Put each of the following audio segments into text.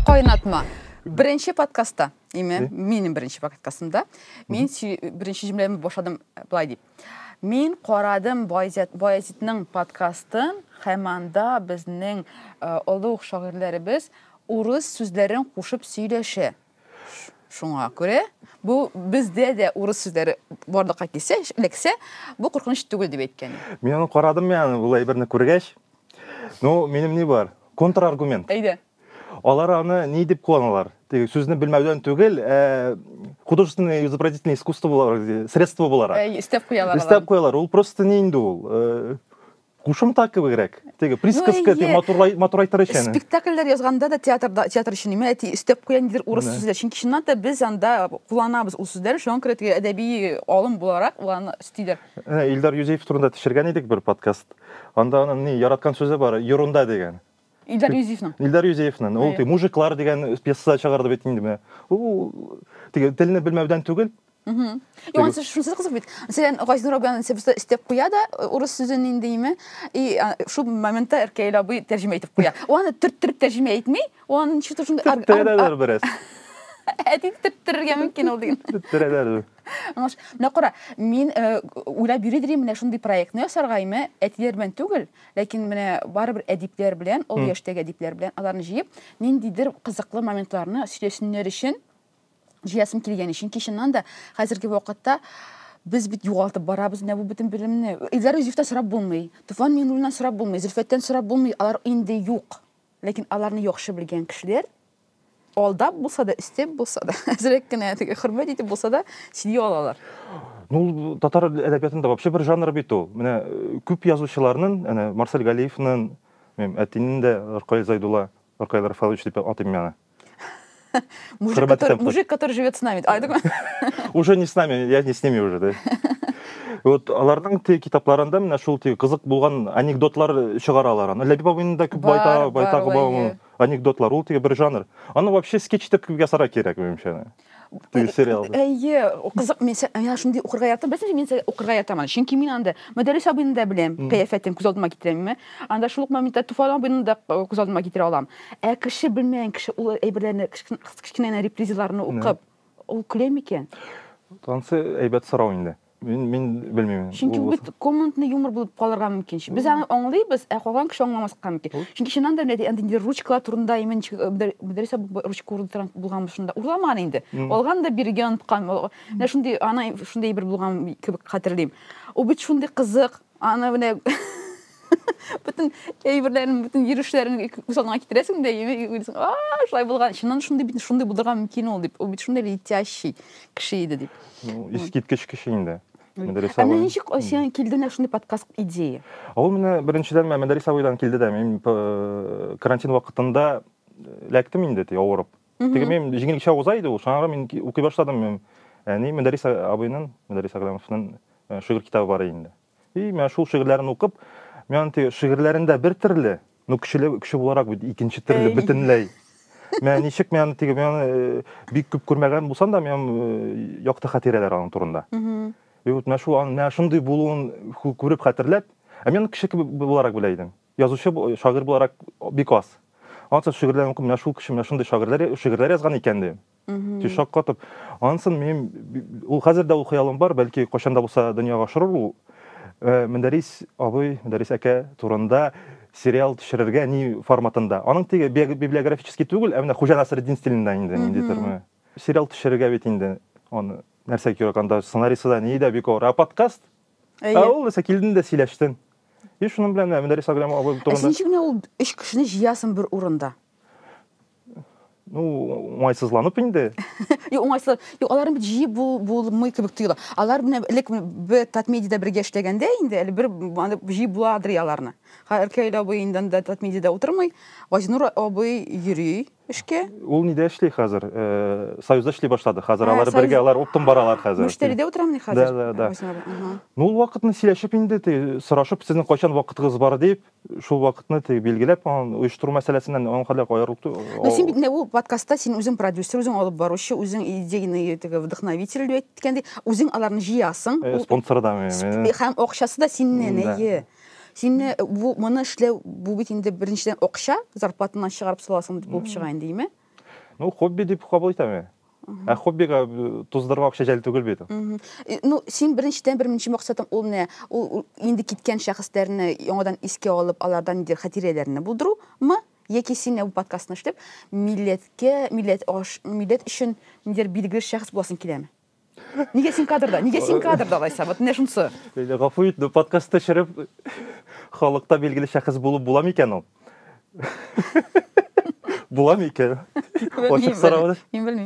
Кайнатма. Беренче подкастта, име, минем беренче подкастымда, мин беренче җөмләмне башладым э, былай дип. Мин карадым Баязитның подкастын һәм анда безнең э, олуг шагыйрьләребез урыс сүзләрен кушып сөйләшә. Шуңа күрә бу бездә дә урыс сүзләре барлыкка килсә, эләксә, бу куркыныч түгел дип әйткән. Мин аны карадым яны, ул әйберне күргәч. Ну, минем ни бар? Контраргумент. Әйдә. Алар аны ни дип куаналар? Теге сүзне белмәүдән түгел, ә художественное изобразительное искусство буларак, средство буларак. Әй, истәп куялар. Истәп куялар. Ул просто ни инде ул? Кушымта кебегрәк. Теге присказка дип матурлай матурайтыр өчен. Спектакльләр язганда да театрда театр өчен имә әти өстәп куя нидер урыс сүзләр. Чөнки чыннан да без анда кулланабыз ул сүзләр. Шуңа күрә теге әдәби алым буларак аны өстиләр. Илдар Юзеев турында төшергән идек бер подкаст. Анда аның ни яраткан сүзе бар, юрунда дигән. Илдар Юзефның. Илдар Юзефның. Ул тип мужиклар дигән пьеса чыгарды бит инде менә. Ул тип телне белмәүдән түгел. Мм. Яңа сүз шунысы кызык бит. Мәсәлән, Газинур абыян сәбәптә истеп куя да э, урыс сүзен инде име? И шул моментта Эркәй абый тәрҗемә итеп куя. Аны төрттереп тәрҗемә итми, аны ничек тә шундый Төрттерәләр бераз. Әти төрттерергә мөмкин ул диген. Төрттерәләр. Аңлаш. Менә кара, мин э, уйлап йөри дирим менә шундый проектны ясарга име, әтиләр белән түгел, Ләкин менә барыбер әдипләр белән, ул яшьтәге әдипләр белән аларны җыеп, ниндидер кызыклы моментларны сөйләсеннәр өчен, җыясым килгән өчен. Чыннан да, хәзерге вакытта без бит югалтып барабыз менә бу бөтен белемне. Илдар Юзефтан сорап булмый, Туфан Миңнуллиннан сорап булмый, Зөлфәттән сорап булмый, алар инде юк. Ләкин аларны яхшы белгән кешеләр алдап булса да, өстәп булса да, әзрәк кенә теге хөрмәт итеп булса да сөйли алалар. Ну, татар әдәбиятында вообще бер жанр бит ул. Менә э, күп язучыларның, әнә Марсель Галиевның, мем әтинең дә Ркаил Зайдулла, Ркаил Рафалович дип атыйм мин аны. мужик, который, мужик, который живет с нами. Айдык Уже не с нами, я не с ними уже, да. Вот аларның те китапларында менә шул те кызык булган анекдотлар чыгаралар. Ләбиб абыйның да күп байта, байта, Анекдотлар ул теге бер жанр. Аны вообще скетч итеп ясарга кирәк, минемчә. Теге э, сериал. Әйе, кызык. Мин я шундый укырга ятам. Беләсеңме, мин укырга ятам. Чөнки мин анда Мөдәррис абыйны да беләм. Кыяфәтен күз алдыма китерәмме? Анда шул ук моментта Туфан абыйны да э, күз алдыма китерә алам. Ә кеше белмәгән кеше ул әйберләрне, кечкенә репризаларны укып, ул көлә микән? Тансы әйбәт сорау инде. Мин, мин белмим. Чөнки бу бит комнатный юмор булып калырга мөмкин. Без аны аңлыйбыз, ә калган кеше аңламаска мөмкин. Чөнки чыннан да инде инде ручка турында имин дәресә ручка урында булган шунда. Урламан инде. Алган да биргән тоткан. Менә шундый ана шундый бер булган кебек хәтерлим. Ул бит шундый кызык. Аны менә бүтән әйберләрен, бүтән йөрешләрен күз алдыңа китерәсең дә, яме уйлыйсың, а, шулай булган, чыннан шундый бит, шундый булырга мөмкин ул дип, ул бит шундый летящий кеше иде дип. Ну, искиткеч кеше инде. Мәдәрис абый. Ә ничек сиңа килде менә шундый подкаст идея? Ул менә беренчедән Мәдәрис абыйдан килде дә, мин карантин вакытында эләктем инде, ди, авырып. теге мен җиңелчә уза иде ул шуңа күрә мин укый башладым мен әни мөдәррис абыйның мөдәррис әгъләмовның шигырь китабы бар инде и менә шул шигырьләрен укып мен аны теге шигырьләрендә бер төрле но көчле көче буларак бит икенче төрле бөтенләй мен ничек мен аны теге мен аны бик күп күрмәгән булсам да мен якты хатирәләр аның турында и вот менә шул аның менә шундый булуын күреп хәтерләп ә мен кеше буларак белә идем Язучы, шагыйрь буларак бик аз. Ансын шигырьләрен укып, менә шул кеше менә шундый шагыйрьләр, шигырьләр язган икән ди. Ди шаккатып. Ансын мин ул хәзер дә ул хыялым бар, бәлки кайчан да булса дөньяга ашырыр ул. Э, Мөдәрис абый, Мөдәрис әкә турында сериал төшерергә ни форматында. Аның теге библиографический түгел, ә менә Хуҗа Насреддин стилендә инде ниндидер ме. Сериал төшерергә бит инде аны нәрсә кирәк анда сценарийсы да ни дә бик авыр. Ә подкаст Ә ул исә килдең дә сөйләштең. И шуның белән менә Мөдәррис Аграм абый турында. Ә син ничек менә ул өч кешене җыясың бер урында? Ну, уңайсызланып инде. Юк, уңайсыз. Юк, аларны бит җыеп булмый кебек тоела. Алар менә элек бер Татмедида бергә эшләгәндә инде, әле бер җыеп буладыр аларны. Хәер, Кәйлә абый инде анда Татмедида утырмый, Газинур абый йөри. эшкә. Ул нидә эшли хәзер? Э, Союзда эшли башлады. Хәзер ә, алар бергә, алар оптом баралар хәзер. Мөштәриде утырам ни хәзер? Да, да, да. Ну, ул вакытны сөйләшеп инде, ти, сорашып, сезнең кайчан вакытыгыз бар дип, шул вакытны ти билгеләп, ан оештыру мәсьәләсеннән ан хәлләр каярылып. Ну, син бит инде ул подкастта син үзең продюсер, үзең алып баручы, үзең идейный теге вдохновитель дип әйткәндә, үзең аларны җыясың. Э, спонсордан. Һәм акчасы да синнән, әйе. Син э, бу моны эшләү бу бит инде беренчедән акча, зарплатаннан чыгарып саласың дип булып чыга инде, име? Ну, хобби дип кабул итәм мин. Ә хоббига э, туздырырга акча җәл түгел бит. Мгм. Э, Ну, син беренчедән беренче максатың ул менә ул ул инде киткән шәхесләрне яңадан искә алып, алардан ниндидер хатирәләрне булдырумы? Яки син менә бу подкастны эшләп, милләткә, милләт аш, милләт өчен ниндидер билгеле шәхес буласың киләме? неге син кадрда неге син кадрда алайса вот менә шунысы гафу ит но подкаст төшереп халыкта билгеле шәхес булып була микән ул була микән ачык сорау мин белмим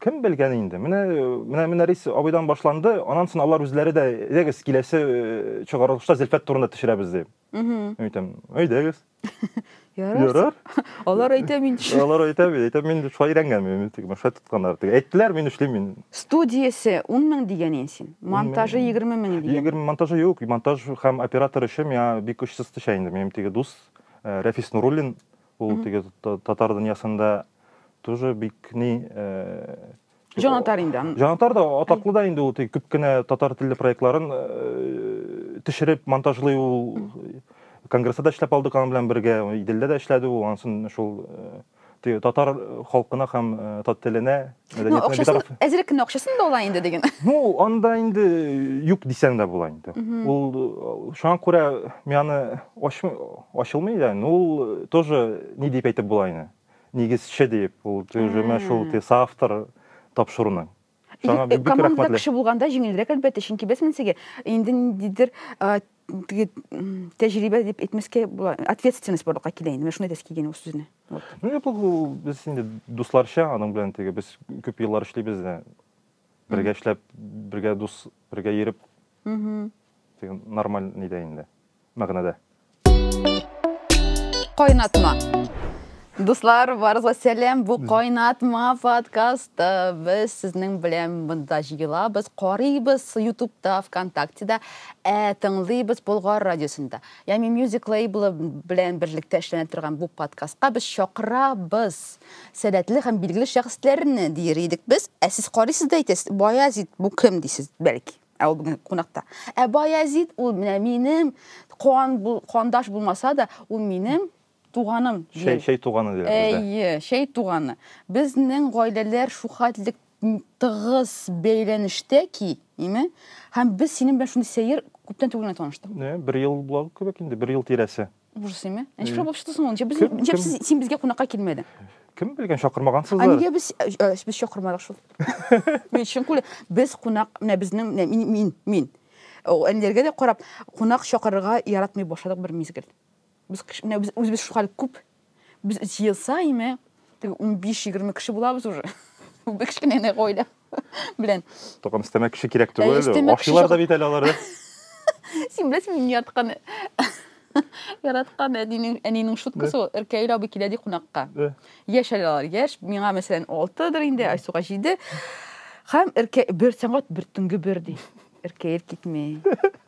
кем белгән инде менә менә менә рис абыйдан башланды анан соң алар үзләре дә әйдәгез киләсе чыгарылышта зөлфәт турында төшерәбез дип Мин әйтәм, әйдәгез. Ярар. Алар әйтә мин. Алар әйтә мин, әйтә мин шулай өйрәнгән мин, тик шулай тотканнар. Тик әйттеләр, мин эшлим мин. Студиясе 10 мең дигән ин син. Монтажы 20 мең дигән. 20 монтажы юк, монтаж һәм оператор эше миңа бик көч сызтыша инде. Минем теге дус э, Рәфис Нуруллин, ул теге татар дөньясында тоже бик ни э, Җанатар инде аны. Җанатар да атаклы да инде ул тик күп кенә татар телле проектларын э, төшереп монтажлый ул конгрессда да эшләп алдык аның белән бергә, Иделдә дә эшләде ул, ансын шул э, те- татар халкына һәм э, татар теленә, Ну, мәдәниятенә акчасын, битараф. әзрәк кенә акчасын да ала инде диген. Ну, анда инде юк дисәң дә була инде. Ул э, шуңа күрә мин аны ачмый, ачылмый да, но ул э, тоже ни дип әйтеп була инде. нигезче диеп, ул җөмә шул ти соавтор тапшыруның. Саңа бик рәхмәтле. Команда кеше булганда җиңелрәк әлбәттә, чөнки без менсеге инде ниндидер теге тәҗрибә дип әйтмәскә була, ответственность барлыкка килә инде. Менә шуны әйтәсе килгән ул сүзне. Ну, бу без инде дусларча, аның белән теге без күп еллар эшлибез дә. Бергә эшләп, бергә дус, бергә йөреп. Теге нормаль нидә инде. мәгънәдә. Кайнатма. Дуслар, барыгызга сәлам. Бу Кайнатма подкасты. Без сезнең белән монда җыелабыз, карыйбыз Ютубта, ВКонтактеда, ә тыңлыйбыз Болгар радиосында. Ями Music лейблы белән берлектә эшләнә торган бу подкастка без чакырабыз сәләтле һәм билгеле шәхесләрне, дияр идек без. Ә сез карыйсыз да әйтәсез, Баязит, бу кем дисез, бәлки. Ә ул бүген кунакта. Ә Баязит ул менә минем куан бу, куандаш булмаса да, ул минем туганым. Шәй, шәй туганы диләр бездә. Әйе, шәй туганы. Безнең гаиләләр шухатлык тыгыз бәйләнештә ки, име? Һәм без синең белән шундый сәер күптән түгел генә таныштык. Бер ел була кебек инде, бер ел тирәсе. ужас неме ә ничек шулай чыктысың ул ничек ничек син безгә кунакка килмәдең кем белгән чакырмагансыз ә нигә без э, э, без чакырмадык шул мин чын күлә без кунак менә безнең менә мин мин мин әниләргә дә карап кунак чакырырга яратмый башладык бер мизгел без менә без үзебез шулай күп без җыелса име теге унбиш егерме кеше булабыз уже бик кечкенә гаилә Белән. Токан өстәмә кеше кирәк Ә, түгел. өстәмә кеше Ашыйлар да бит әле алары. Син беләсеңме мин яраткан яраткан әнинең әнинең шуткасы ул Иркәил абый килә ди кунакка. Э. Яшь әле алар, яшь. Миңа мәсәлән 6дыр инде, Айсуга 7. Һәм Иркә бер сәгать бер төнге бер ди. Иркәил китми.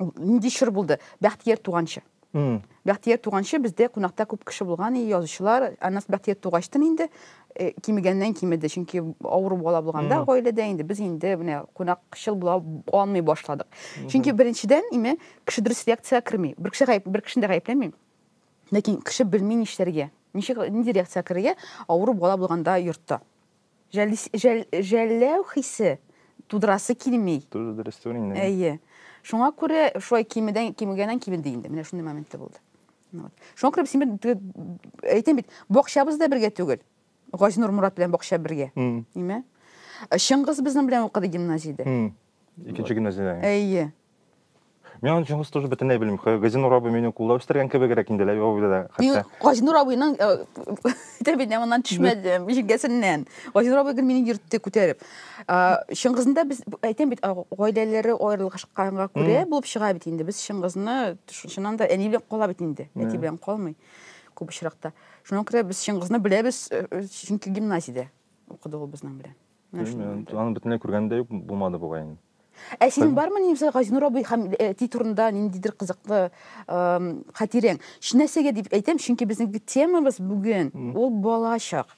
нинди чор булды бәхтияр туганчы бәхтияр туганчы бездә кунакта күп кеше булган и язучылар аннан бәхтияр тугачтын инде э, кимегәннән кимеде чөнки авыру бала булганда гаиләдә инде без инде менә кунакчыл була алмый башладык чөнки беренчедән име кеше дөрес реакциягә керми бер кеше гаеп бер кешене дә гаепләмим ләкин кеше белми нишләргә ничек нинди реакциягә керергә авыру бала булганда йортта Җәлис, җәл, җәлләү хисе тудырасы килми. Тоже дөрес түгел инде. Әйе. Шуңа күрә шулай кимедән, кимегәннән кимеде инде. Менә шундый моменты булды. Ну, вот. Шуңа күрә без инде, әйтәм бит, бакчабыз да бергә түгел. Газинур Мурат белән бакча бергә. Нимә? Чыңгыз безнең белән укыды гимназиядә. Икенче гимназиядә. Әйе. Мин аны чоңгыс тоже бөтенләй белмим. Газинур абый мине кулда үстергән кебегрәк инде лә абый да хәтта. Газинур абыйның тәбидә моннан төшмәде, җиңгәсеннән. Газинур абый гел мине йөртте күтәреп. Чыңгызында без әйтәм бит, гаиләләре аерылышканга күрә булып чыга бит инде. Без Чыңгызны шуннан да әни белән кала бит инде. Әти белән калмый күп очракта. Шуңа күрә без Чыңгызны беләбез, чөнки гимназиядә укыды ул безнең белән. Белмим, аны бөтенләй күргән дә юк булмады бугай инде. Ә синең бармы Нибза Газинур абый һәм әти турында ниндидер кызыклы хатирең? Шинәсәгә дип әйтәм, чөнки безнең темабыз бүген ул балачак.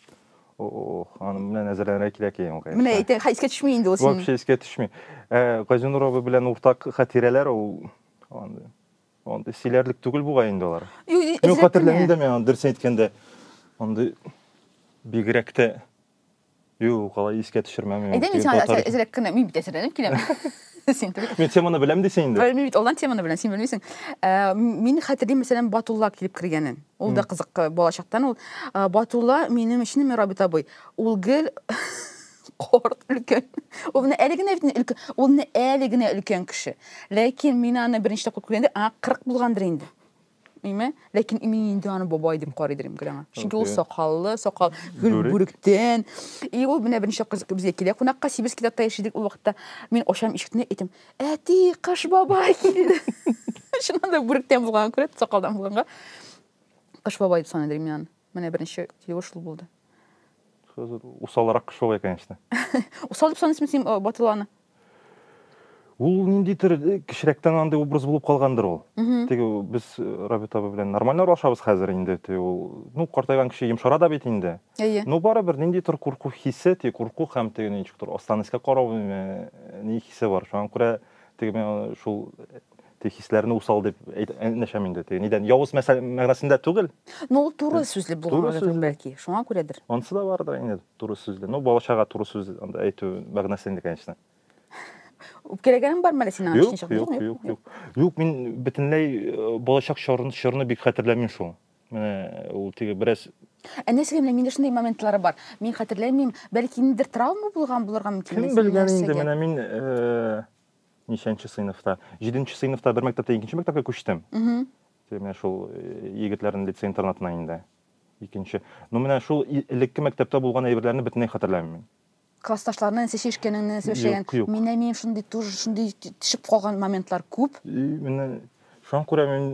Ох, аны менә әзерләнергә кирәк икән ул. Менә әйтә, искә төшми инде ул синең. Вообще искә төшми. Ә Газинур абый белән уртак хатирәләр ул андый. Андый сөйләрлек түгел бугай инде алар. Мин хатирәләмим дә мин дөрес әйткәндә. Андый бигрәк тә Юк, алай искә төшермәм. Әйдә мин сиңа әзрәк кенә, мин бит әзерләнеп киләм. Син түгел. Мин теманы беләм дисең инде. Мин бит алдан теманы беләм, син белмисең. Э, мин хәтерлим, мәсәлән, Батулла килеп кергәнен. Ул да кызык э, балачактан ул. Э, Батулла минем өчен Мирабит абый. Ул гел корт өлкән. Ул менә әле генә бит өлкән. Ул менә әле генә өлкән кеше. Ләкин мин аны беренче тапкыр күргәндә, а 40 булгандыр инде. Әйме? Ләкин мин инде аны бабай дип карыйдыр инде аңа. Чөнки ул сакаллы, сакал гөл бүректән. И ул менә беренче кыз безгә килә кунакка, сибез китапта яшидек ул вакытта. Мин ошам ишекне әйтәм, әти, кыш бабай килде. Шуннан да бүректән булган күрә, сакалдан булганга. Кыш бабай дип саныйдыр мин аны. Менә беренче килүе шул булды. Усалрак кеше ул, конечно. Усал дип саныйсың син э, Батыланы? Ул ниндидер э, кечерәктән андый образ булып калгандыр ул. Теге без э, Рабит абый белән нормально аралашабыз хәзер инде. Теге ул, ну, картайган кеше йомшара да бит инде. Әйе. Но барыбер ниндидер курку хисе, теге курку һәм теге ничектер астан искә карау, э, ни хисе бар. Шуңа күрә теге мен шул теге хисләрне усал дип әйтмәшәм инде теге нидән явыз мәгънәсендә түгел ну ул туры сүзле булган бәлки шуңа күрәдер анысы да бардыр инде туры сүзле ну бала чага туры сүз әйтү мәгънәсендә конечно үпкәләгәнең бармы әле синең юк юк юк юк юк мин бөтенләй э, балачак чорны бик хәтерләмим шул менә ул теге бераз ә нәрсәгә менә миндә шундый моментлары бар мин хәтерләмим бәлки ниндидер травма булган булырга мөмкин кем белгән инде менә мин э, Ничәнче сыйныфта? Җиденче сыйныфта бер мәктәптә икенче мәктәпкә күчтем. Менә шул э, егетләрнең лицей интернатына инде. Икенче. Ну менә шул элекке мәктәптә булган әйберләрне бөтенләй хәтерләмим. Классташларны нәсә чишкәнең, нәсә эшләгән. Менә мин шундый тур, шундый төшеп калган моментлар күп. Менә шуңа күрә мин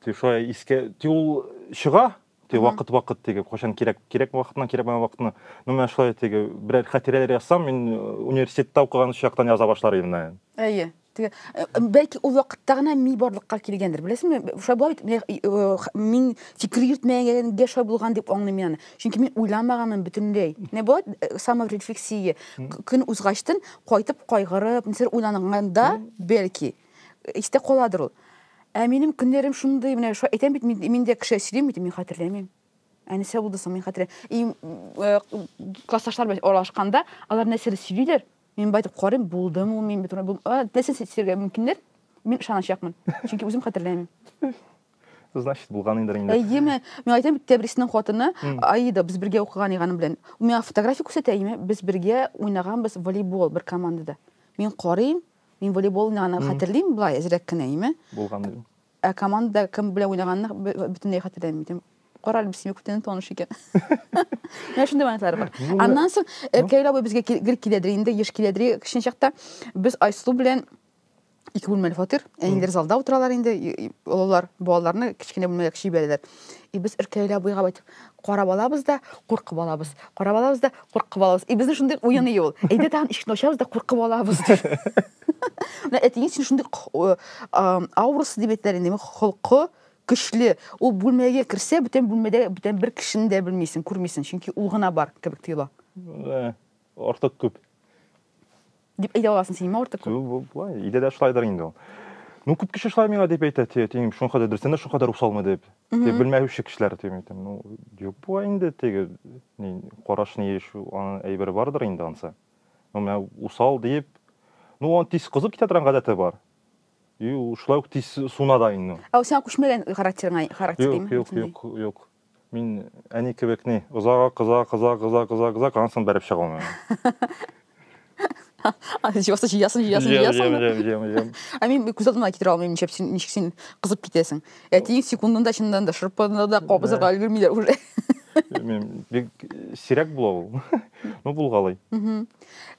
шулай искә, ул чыга, Теге Ага. вакыт вакыт теге кайчан кирәк кирәк вакытына кирәкмәгән вакытына. Ну менә шулай теге берәр хатирәләр язсам, мин э, университетта укыган чактан яза башлар идем менә. Әйе. Теге, э, бәлки ул вакытта гына ми барлыкка килгәндер. Беләсеңме? Шулай була бит. Менә, э, э, х- Мин фикер йөртмәгәнгә шулай булган дип аңлыйм мин аны. Чөнки мин уйламаганмын бөтенләй. Не була бит, э, саморефлексия. К- Көн узгачтын кайтып кайгырып, нәрсәдер уйланганда, бәлки. истә каладыр ул. Ә минем көннәрем шундый, менә шулай әйтәм бит, мин, мин дә кеше сөйлим бит, мин хәтерләмим. Ә нәрсә булды соң, мин хәтерләмим. И э, классташлар белән аралашканда, алар нәрсәдер сөйлиләр, мин байтып карыйм, булдым ул, мин бит бу нәрсә сөйләргә мөмкиннәр, мин ышаначакмын. Чөнки үзем хәтерләмим. Значит, булган инде инде. Әйеме? Мин әйтәм бит, Тәбриснең хатыны Аида, без бергә укыган иганы белән. Миңа фотография күрсәтә, әйеме? Без бергә уйнаганбыз волейбол бер командада. Мин карыйм, Мин волейболны гына хәтерлим, болай әзрәк кенә име. Булган идем. Ә команда кем белән уйнаганны бөтенләй хәтерләмим идем. Кара әле, синең күптән таныш икән. Менә шундый вариантлар бар. Аннан соң Эркәй абый безгә гел киләдер инде, еш киләдер кечкенә чакта. Без Айсылу белән ике бүлмәле фатир. Әниләр залда утыралар инде, олылар балаларны кечкенә бүлмәгә кичереп бирәләр. И без Эркәй абыйга әйтеп, карап алабыз да куркып алабыз карап алабыз да куркып алабыз и безнең шундый уены юл әйдә тагын ишекне ачабыз да куркып алабыз дип менә әтиең син шундый аурасы дип әйтәләр инде холкы көчле ул бүлмәгә керсә бүтән бүлмәдә бүтән бер кешене дә белмисең күрмисең чөнки ул гына бар кебек тоела артык күп Дип әйтә аласың син миңа артык күп. Бу булай. Өйдә дә шулайдыр инде ул. Ну, күп кеше шулай миңа дип әйтә, ти, тиң, шуңа кадәр дөрестән дә шуңа кадәр усалмы дип. Ти, белмәүче кешеләр дип әйтәм. Ну, юк була инде, теге, ни, караш ни еш, аның әйбере бардыр инде ансы. Ну, менә усал дип, ну, он тиз кызып китә торган гадәте бар. И, шулай ук тиз суна да инде. Ә сиңа күчмәгән характерыңа характер. Юк, юк, юк, юк. Мин әни кебек ни, озага кыза, кыза, кыза, кыза, кыза, канасын бәреп чыга алмыйм. Җыясын, җыясын, җыясын, җыясын. Җыям, җыям, җыям. Ә мин күз алдыма китерә алмыйм, ничек син, ничек син кызып китәсең. Әтиң секундында чыннан да шырпыны да кабызырга өлгермиләр уже. Мен бик сирәк була ул. Ну булгалый.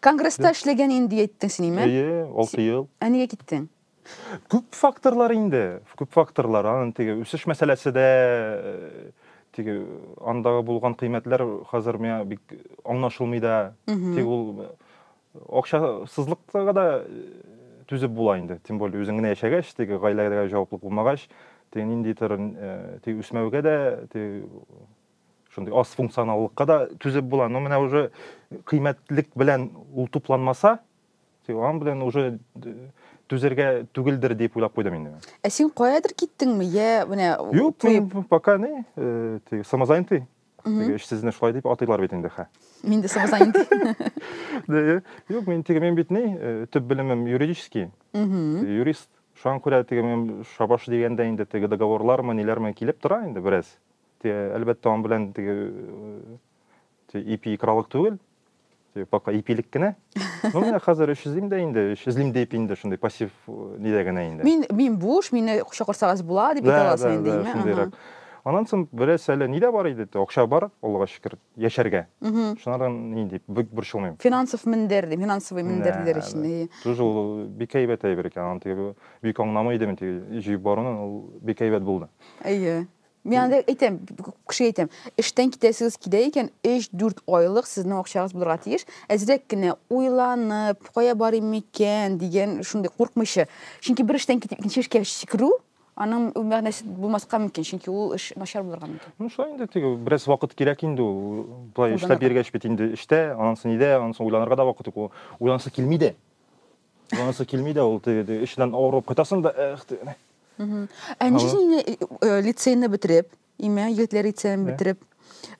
Конгресста эшләгән инде әйттең син, име? Әйе, 6 ел. Ә нигә киттең? Күп факторлар инде, күп факторлар. Анын теге үсеш мәсьәләсе дә, теге андагы булган кыйммәтләр хәзер миңа бик аңлашылмый да. Тик ул акчасызлыкка да түзеп була инде. Тем более үзең генә яшәгәч, теге гаиләгә җаваплы булмагач, теге ниндидер теге үсмәүгә дә, теге шундый аз функционаллыкка да түзеп була. Но менә уже кыйммәтлек белән ул тупланмаса, Тик аның белән уже түзәргә түгелдер дип уйлап куйдым инде. Ә син каядыр киттеңме? Я, менә Юк, мин пока не, э, теге самозанятый. Теге эшсезне шулай дип атыйлар бит инде, хә. Мин дә самозанятый. Э, юк, мин теге мин бит не, э, төп белемем юридический. Юрист. Шуңа күрә теге мин шабаш дигәндә инде теге договорлармы, ниләрме килеп тора инде бераз. Теге әлбәттә аның белән теге ипи икралык түгел пока ипилек кенә ну менә хәзер эш эзлим дә инде эш эзлим дип инде шундый пассив э, нидә генә инде мин мин буш мине чакырсагыз була дип әйтә аласың инде име шундыйрак анан соң бераз әле нидә бар иде акча бар аллага шөкер яшәргә шунардан ни дип бик борчылмыйм финансов мендер дип финансовый мендер диләр өчен тоже ул бик әйбәт әйбер икән аны теге бик аңламый идем теге җыеп баруны ул бик әйбәт булды әйе Мин анда әйтәм, кешегә әйтәм, эштән китәсегез килә икән, 3-4 айлык сезнең акчагыз булырга тиеш. Әзрәк кенә уйланып, кая барыйм микән дигән шундый куркмыйча. Чөнки бер эштән китеп икенче эшкә сикерү, аның мәгънәсе булмаска мөмкин, чөнки ул эш начар булырга мөмкин. Ну, шулай инде, теге бераз вакыт кирәк инде ул. Болай эшләп йөргәч бит инде эштә, аннан соң өйдә, аннан соң уйланырга да вакыт юк. Уйланасы килми дә. Монысы килми дә ул теге теге эченнән авырып кайтасың да эх теге. Ә ничек син инде э, э, лицейны бетереп, имә егетләр лицейны бетереп,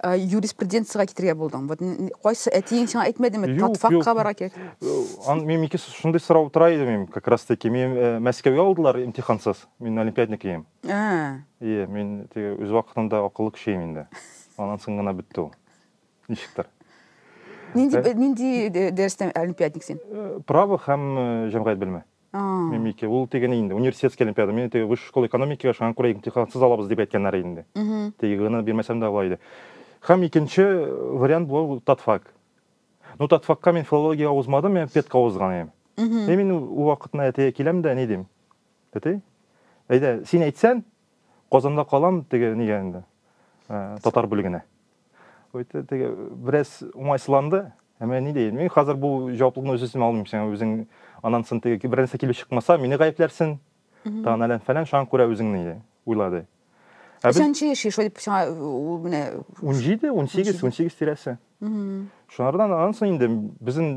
э, юриспруденцияга китергә булдың. Вот н- кайсы әтиең сиңа әйтмәдеме? Юк, юк. Татфакка бара кирәк. Э, Ан мин ике шундый сорау тора иде мин как раз таки. Мин э, Мәскәүгә алдылар имтихансыз. Мин олимпиадник идем. Ә, Ие, мин теге үз вакытында акыллы кеше идем инде. Аннан соң гына бетте ул. ничектер нинди э? нинди э, дәрестә олимпиадник син э, право һәм җәмгыять белеме мин ике ул теге инде университетский олимпиада мен теге высшая школа экономикага шуңа күрә имтихансыз алабыз дип әйткәннәр инде теге гына бирмәсәм дә була иде һәм икенче вариант бу татфак ну татфакка мин филология узмадым мен педка узган идем и мин ул вакытны әтигә киләм дә ни дим әти әйдә син әйтсәң казанда калам теге нигә инде татар бүлегенә Үтте теге бераз уңайсызланды. Ә мен ни дейін? Мин хәзер бу җаваплылыкны үз өстемә алмыйм. Син үзең аннан соң теге бер нәрсә килеп чыкмаса, мине гаепләрсең. Тагын әлән фәлән шуңа күрә үзеңне иде, уйлады. Ә без Сәнче яши, шулай дип сиңа ул менә 17, 18, 18 тирәсе. Шунардан аннан соң инде безнең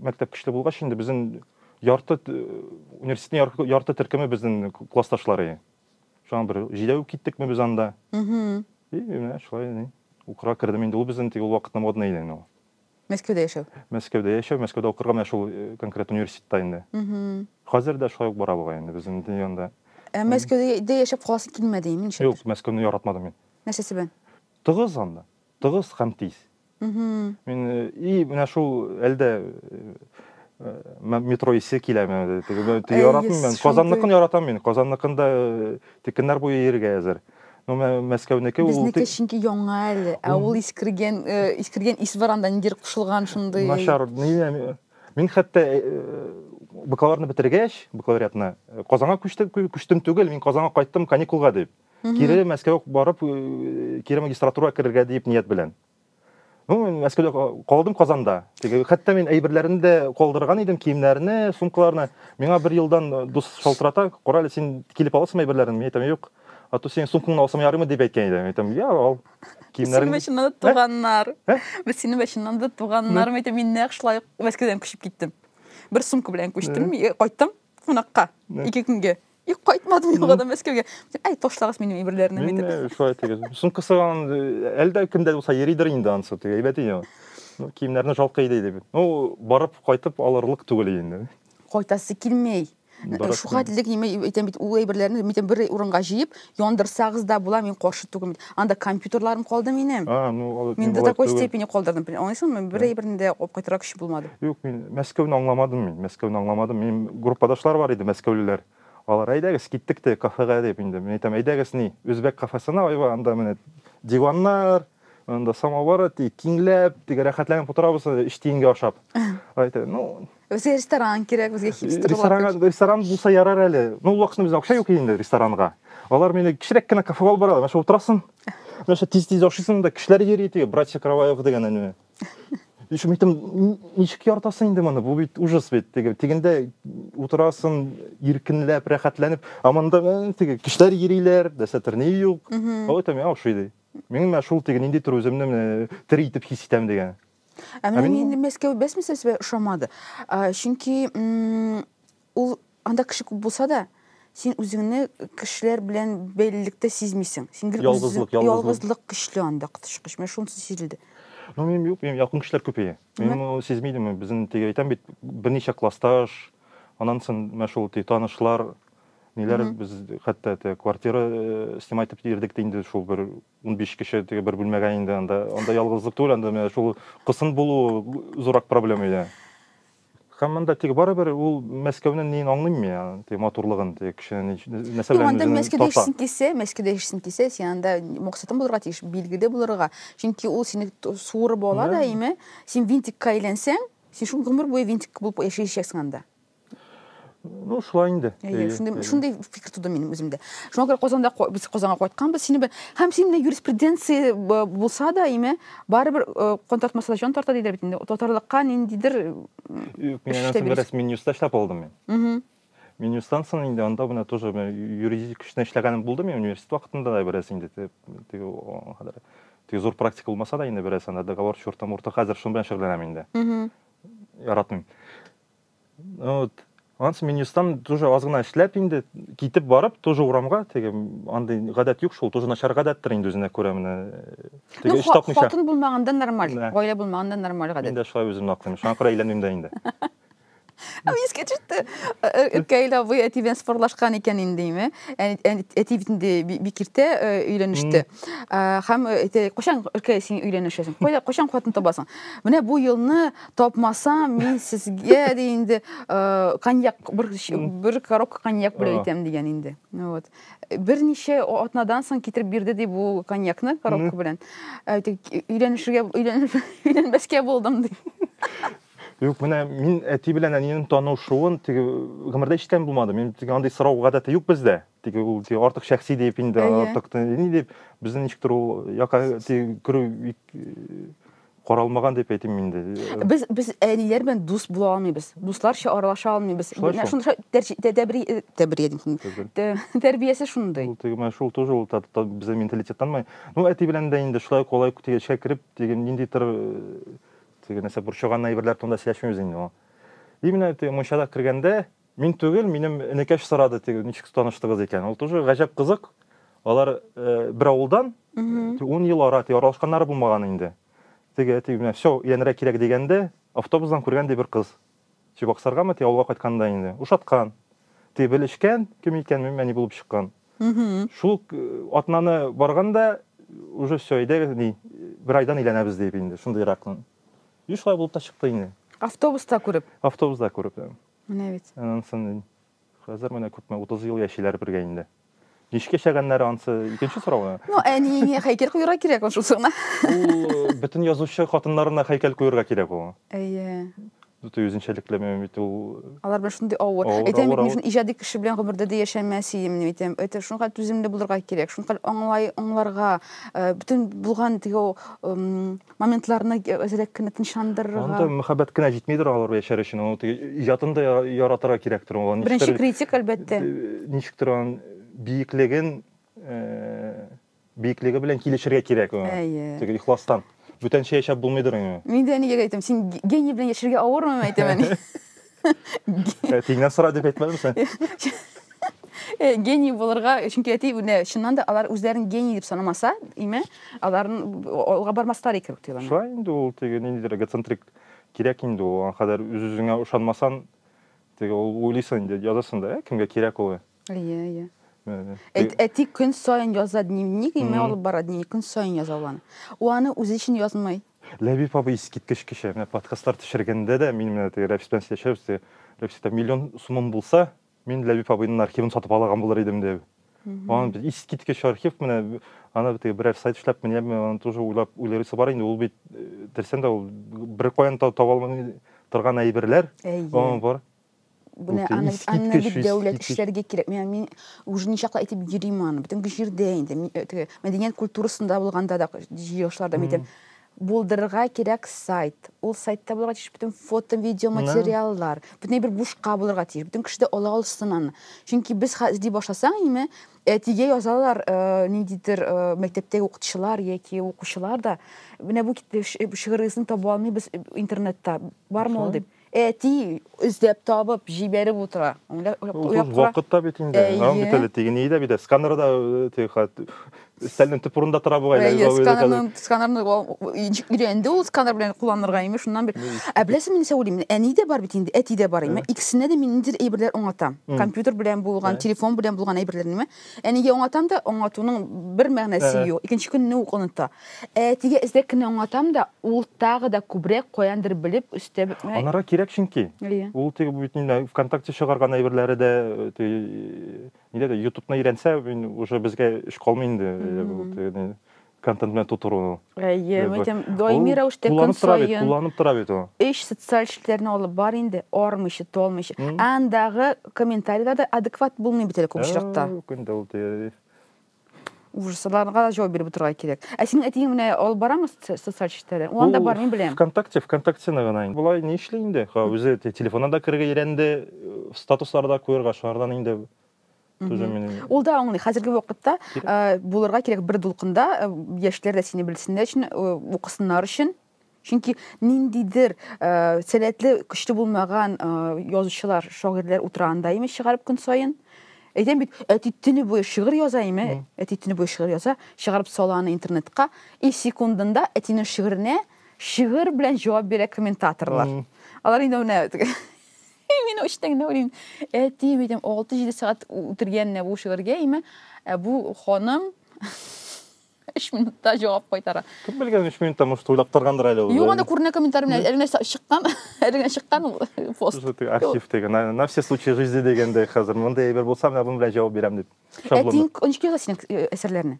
мәктәп көчле булгач инде безнең ярты университетның ярты төркеме безнең классташлары. Шуңа бер җидәү киттекме без анда. И, менә шулай ни. Укырга кердем инде. Ул безнең теге ул вакытны модный иде инде ул. Мәскәүдә яшәү. Мәскәүдә яшәү, Мәскәүдә укырга менә шул э, конкрет университетта инде. Хәзер дә шулай ук бара бугай инде безнең инде анда. Ә Мәскәүдә яшәп каласы килмәде, имин шәт. Юк, Мәскәүне яратмадым мин. Нәрсәсе белән? Тыгыз анда. Тыгыз һәм тиз. Мин и менә шул әлдә метро исе киләме яратмыйм мен казанныкын яратам мин казанныкында текеннәр буе йөрергә әзер но мәскәүнеке ул безнеке чөнки яңа әле ә ул искергән искергән ис бар анда ниндидер кушылган шундый начар мин хәтта бакалаврны бетергәч бакалавриатны казанга күчтем түгел мин казанга кайттым каникулга дип Кире Мәскәүгә барып, э, кире магистратура керергә дип ният белән. Ну, мин Мәскәүдә калдым Казанда. Теге хәтта мин әйберләрне дә калдырган идем, киемнәрне, сумкаларны. Миңа бер елдан э, дус шалтырата, "Корале, син килеп аласың әйберләрен?" Мин әйтәм, "Юк. А то синең сумкаңны алсам ярыймы?" дип әйткән иде. Мин әйтәм, "Я, ал." Киемнәрен. Синең башыннан да туганнар. Без синең башыннан да туганнар. Мин әйтәм, мин нәкъ шулай Мәскәүдән күчеп киттем. Бер сумка белән күчтем, кайттым. кунакка ике көнгә и кайтмадым яңадан мәскәүгә әй ташлагыз минем әйберләрне мин шулай итегез сумка сыган әлдә кемдә булса йөридер инде анысы теге әйбәт иде ну киемнәрне жалко иде дип ну барып кайтып алырлык түгел инде кайтасы килмей шуга диде әйтәм бит ул әйберләрне бер урынга җыеп Яндырсагыз да була, мин каршы түгел. Анда компьютерларым калды минем. А, ну, алай- Мин до алай такой түгел. степени калдырдым. Бел- Аңлыйсыңмы? Бер әйберне дә алып кайтырга көчем булмады. Юк, мин Мәскәүне аңламадым мин. Мәскәүне аңламадым. Минем группадашлар бар иде, мәскәүлеләр. Алар, әйдәгез, киттек те кафега дип инде. Мин әйтәм, әйдәгез ни, үзбәк кафесына, айва, анда менә диваннар, анда самовар, ди, киңләп, теге рәхәтләнеп утырабыз, өч тиенгә ашап. Әйтә, ну, Безгә ресторан кирәк, безгә хипстер Ресторан, ресторан булса ярар әле. Ну, вакытны бездә акча юк инде ресторанга. Алар мине кечерәк кенә кафе алып баралар. Мәшә утырасың. Мәшә тиз-тиз ашыйсың да кешеләр йөри теге братья Кроваевы дигән әне. Ишә митем ничек яртасың инде моны? Бу бит ужас бит. Теге тигендә утырасың, иркенләп, рәхәтләнеп, а монда э, теге кешеләр йөриләр, дәсәтер ни юк. Алай тәм ашый ди. Мин шул теге нинди төр үземне тери итеп хис итәм дигән. Ә менә мин Мәскәү бәсмәсә сезгә ошамады. Чөнки ул анда кеше күп булса да, син үзеңне кешеләр белән бәйлелектә сизмисең. Син гел ялгызлык, ялгызлык көчле анда кытышкыч. Менә шунысы сизелде. Ну, мин юк, мин якын кешеләр күпәя. Мин ул сизмидем, безнең теге әйтәм бит, берничә классташ, аннан соң менә шул танышлар, ниләр без хәтта квартира снимать итеп йөрдек инде шул бер Унбиш кеше теге бер бүлмәгә инде анда. Анда ялгызлык түгел, анда менә шул кысын булуы зуррак проблема иде. Һәм монда теге барыбер ул Мәскәүнең неен аңлыйм мин аны, теге матурлыгын, теге кешене нәрсә белән анда Мәскәүдә яшисең килсә, Мәскәүдә яшисең килсә, син анда максатың булырга тиеш, билгеле булырга. Чөнки ул сине суырып ала да, име, син винтикка әйләнсәң, син шул гомер буе винтик булып яшәячәксең анда. ну шулай инде әйе шундый шундый фикер туды минем үземдә шуңа күрә казанда без казанга кайтканбыз сине бер һәм син менә юриспруденция булса да име барыбер кан тартмаса да җан тарта диләр бит инде татарлыкка ниндидер юк мин аннан бераз минюста эшләп алдым мин минюстан соң инде анда менә тоже юридик көчтә эшләгәнем булды мин университет вакытында да бераз инде теге хәзер теге зур практика булмаса да инде бераз анда договор чурта мурта хәзер шуның белән шөгыльләнәм инде яратмыйм вот анысы мен естам тоже аз гына эшләп инде китеп барып тоже урамга теге андый гадәт юк шул тоже начар гадәттер инде үзенә күрә менә теге эш тапмыйча хатын булмаганда нормаль гаилә булмаганда нормаль гадәт мин дә шулай үземне аклыйм шуңа күрә өйләнмим дә инде искә төште өлкәйел абый әти белән спорлашкан икән индеме әти бит инде бик иртә өйләнеште һәм кайчан өлкәй син өйләнешәсең кайчан хатын табасың менә бу елны тапмасам мин сезгә ди инде э, коньяк бер бер коробка коньяк белән әйтәм дигән инде вот берничә атнадан соң китереп бирде ди бу коньякны коробка белән өйләнешергә өйләнбәскә булдым ди Юк, менә мин әти белән әнием танышуын теге гомердә ишеткән булмадым. Мин теге андый сорау гадәте юк бездә. Теге ул теге артык шәхси дип инде артык ни дип безнең ничектер ул якка теге керү каралмаган дип әйтим мин инде. Без без әниләр белән дус була алмыйбыз. Дусларча аралаша алмыйбыз. Менә шундый тәрбия тәрбия тәрбиясе шундый. Ул теге менә шул тоже ул безнең менталитеттан май. Ну әти белән дә инде шулай колай теге эчкә кереп, теге нинди тор теге нәрсә борчыган әйберләр турында сөйләшмибез инде. И менә теге мунчага кергәндә, Мин түгел, минем энекәш сорады теге, ничек таныштыгыз икән. Ул тоже гаҗәп кызык. Алар э, бер авылдан, Мгм. 10 ел ара, теге аралашканнары булмаган инде. Теге әти менә все, өйләнергә кирәк дигәндә, автобустан күргән ди бер кыз. Чебоксаргамы, теге авылга кайтканда инде. Ушаткан. Теге белешкән, кем икән, мин әни булып чыккан. Мгм. Шул э, атнаны барганда, уже все, әйдәгез, ни, бер айдан өйләнәбез дип инде, шундыйрак. И шулай булып та чыкты инде. Автобуста күреп. Автобуста күреп. да. Менә бит. Ансын хәзер менә күпме 30 ел яшиләр бергә инде. Ничек яшәгәннәре ансы икенче сорау. Ну, әниеңә һәйкәл куярга кирәк ул шусы гына. Ул бөтен язучы хатыннарына һәйкәл куярга кирәк ул. Әйе. Бөтен үзенчәлекле бит ул. Алар белән шундый авыр. Әйтәм бит, мин иҗади кеше белән гомердә дә яшәмәс идем дип әйтәм. Әйтә шуңа түземле булырга кирәк, шуңа аңлай, аңларга, бөтен булган теге моментларны әзрәк кенә тынычландырырга. Анда мәхәббәт кенә җитмидер алар яшәр өчен. Ул иҗатын да яратырга кирәктер. Беренче критик, әлбәттә. Ничектер аның биеклеген, биеклеге белән килешергә кирәк. Теге ихластан. Бүтәнчә яшәп булмыйдыр инде. Мин дә әнигә әйтәм, син гений белән яшәргә авырмы, әйтәм әни. Э, тиңнән сора дип әйтмәдем сен э, гений булырга чөнки әти менә чыннан да алар үзләрен гений дип санамаса име аларны алга бармаслар икән дип уйлана шулай инде ул теге ниндидер эгоцентрик кирәк инде ул аңа кадәр үз үзеңә ышанмасаң теге ул уйлыйсың инде язасың да ә кемгә кирәк ул Әйе, әйе. Әти көн саен яза дневник, и мен алып бара дневник, көн саен яза ул аны. Ул аны үзе өчен язмый. Ләбиб абый искиткеч кеше. Менә подкастлар төшергәндә дә мин менә теге Рәфис белән сөйләшәбез, теге Рәфис әйтә, миллион сумым булса, мин Ләбиб абыйның архивын сатып алаган булыр идем дип. Ан без искиткеч архив менә ана бит берәр сайт эшләп менә аны тоже уйлап уйларысы бар инде ул бит терсән дә ул бер каян таба алмый торган әйберләр. Әйе. Бар. Бу Менә аны бит- аны искиткеч, бит дәүләт искиткеч. эшләргә кирәк. Менә мин уже ничаклы әйтеп йөрим аны. Бөтен җирдә инде. Мин, э, теге мәдәният культурасында булганда да, җыелышларда мин әйтәм, булдырырга кирәк сайт. Ул сайтта булырга тиеш бөтен фото, видео материаллар. Бөтенләй бер бушка булырга тиеш. Бөтен кеше дә ала алсын аны. Чөнки без хәзер ди башласаң, име, әтигә язалар, э, ниндидер э, мәктәптәге укытучылар яки укучылар да, менә бу кит- ш- шигырегезне таба алмыйбыз интернетта. Бармы ул Шулай. дип. Әти эзләп табып җибәреп утыра. Ул вакыт та бит инде. Аң бит әле теге ни дә бит. Сканер да теге хат өстәлнең төп урында тора бу әле. Әйе, сканерны, сканерны өйрәнде ул сканер белән кулланырга име, шуннан бер. Ә беләсең, мин сәүлим, әни дә бар бит инде, әти дә бар име. Икесенә дә мин ниндидер әйберләр аңлатам. Компьютер белән булган, телефон белән булган әйберләрне. Әнигә аңлатам да, аңлатуның бер мәгънәсе юк. Икенче көнне үк оныта. Әтигә эзрәк кенә аңлатам да, ул тагы да күбрәк каяндыр белеп өстәп. Анарга кирәк чөнки. Ул теге бит инде ВКонтакте чыгарган әйберләре дә, нидә дә, Ютубны өйрәнсә, мин уже безгә эш калмый инде. контент белән тутыруны. Әйе, мин әйтәм, даими рәвештә көн саен. Кулланып тора бит ул. Эш социаль эшләрне алып бар инде, армыйча, толмыйча. Андагы комментарийлар да адекват булмый бит әле күп очракта. Көнтә ул тия. Ужасларга җавап биреп утырырга кирәк. Ә синең әтиең менә алып барамы социаль эшләре? Ул анда бар, мин беләм. ВКонтакте, ВКонтактены гына инде. Болай ни эшли инде? Үзе телефонына да керергә өйрәнде, статусларда куярга, шулардан инде Тоже мені... Ол да оңлы. Хәзерге вакытта э, булырга кирәк бер дулкында э, яшьләр дә сине белсеннәр өчен, э, укысыннар өчен. Чөнки ниндидер э, сәләтле, көчле булмаган э, язучылар, шагыйрьләр утыра анда име чыгарып көн саен. Әйтәм бит, әти төне буе шигырь яза име, әти төне буе шигырь яза, чыгарып сала аны интернетка, и секундында әтинең шигыренә шигырь белән җавап бирә комментаторлар. Алар инде менә И мин очтың да уйлыйм. Әти битем 6-7 сәгать үтергәнне бу шигырьгә име? Ә бу ханым 3 минутта җавап кайтара. Кем белгән 3 минутта может уйлап торгандыр әле ул. Юк, анда күренә комментарий белән әле нәрсә чыккан, әле генә чыккан ул пост. Архив теге, на, на все случаи жизни дигәндәй хәзер. Мондый әйбер булса, менә бу белән җавап бирәм дип. Шаблон. Әтиң ончык яза синең әсәрләрне.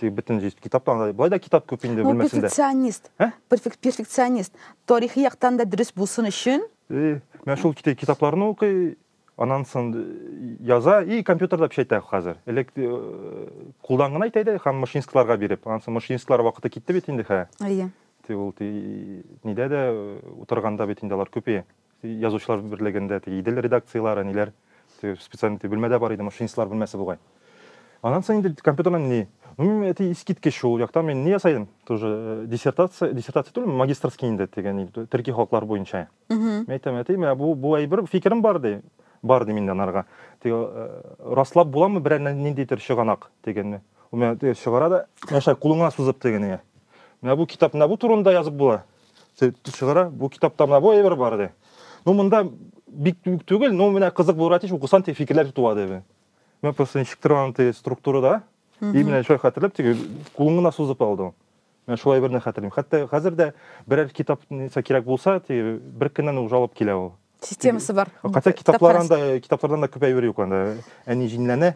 Ты бөтен җиз китаптан да болай да китап күп инде ну, перфекционист ә? перфекционист тарихи яктан да дөрес булсын өчен и мен шул китапларны укый анан сон яза и компьютерда печатьтә хәзер элек кулдан гына әйтә иде һәм машинистларга биреп анан сон машинистлар вакыты китте бит инде хә әйе ул нидә дә утырганда бит инде алар күпи Язучылар берлегендә теге Идел редакцияләре, ниләр, теге специальный теге бүлмәдә бар иде, машинистлар бүлмәсе бугай. Аннан соң инде компьютердан ни? Ну, мин әти искиткеч шул яктан мин ни ясадым? Тоже э, диссертация, диссертация түгел, магистрский инде дигән төрки халыклар буенча. Мин әйтәм, әти, менә бу бу әйбер фикерем бар ди. Бар ди миндә анарга. Теге э, раслап буламы берәр ниндидер чыганак дигәнне. Ул менә чыгара да, яшай кулыңа сузып дигән. Менә бу китап менә бу турында язып була. чыгара бу китапта менә бу әйбер бар ди ну монда бик түгел но менә кызык булырга тиеш укысаң теге фикерләр туа диде мен просто ничек тора аны теге структурада и менә шулай хәтерләп теге кулын гына сузып алды ул мен шулай берне хәтерлим хәтта хәзер дә берәр китап нәрсә кирәк булса теге бер көннән уже алып килә ул системасы бар хотя китаплар анда китаплардан да күп әйбер юк анда әни җинләнә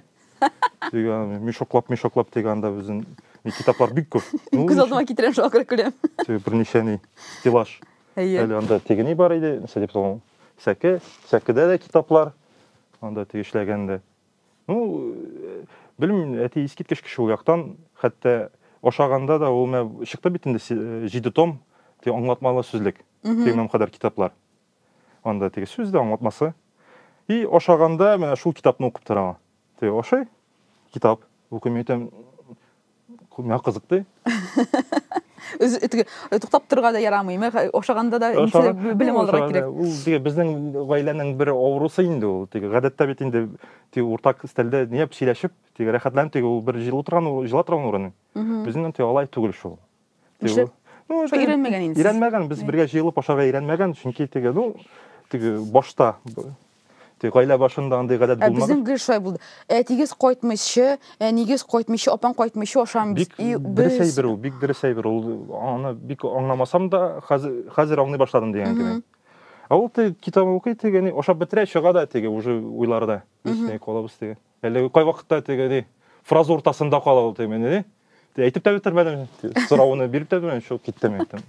мешоклап мешоклап теге анда безнең китаплар бик күп күз алдыма китерәм шуңа күрә көләм берничә ни стеллаж әле анда теге ни бар иде нәрсә дип сәке сәкедә дә китаплар анда теге эшләгәндә ну белмим әти искиткеч кеше ул яктан хәтта ашаганда да ул менә чыкты бит инде җиде том аңлатмалы сүзлек тегеннән кадәр китаплар Анда теге сүз дә аңлатмасы. И ашаганда менә шул китапны укып тора аңа. Теге ашый, китап укый, мин әйтәм, миңа кызык ди. Туктап торга да ярамый, ашаганда да белем алырга кирәк. Ул теге безнең гаиләнең бер авырусы инде ул. Теге гадәттә бит инде теге уртак стәлдә ниәп сөйләшеп, теге рәхәтләнеп теге ул бер җылы торган, җыла торган урыны. Безнең инде алай түгел шул. Нишләп? Ну, уже өйрәнмәгән инде. Өйрәнмәгән, без бергә җыелып ашарга өйрәнмәгән, чөнки теге, ну, теге башта Тик гаилә башында андый гадәт ә булмады. Безнең гел шулай булды. Әтигез кайтмыйча, әнигез кайтмыйча, апаң кайтмыйча ашамыз. Бик дөрес әйбер ул, бик дөрес әйбер ул. Аны бик аңламасам да, хәзер хәзер аңлый башладым дигән кеби. Ә ул теге китап укый, теге ашап бетерә, чыга да теге уже уйларда. Үсмәй калабыз теге. Әлеге кайвакытта теге ди, фраза уртасында кала ул темен ди. Ди, әйтеп тә бетермәдем. Сорауны биреп тә белмәдем, шул киттем әйтем.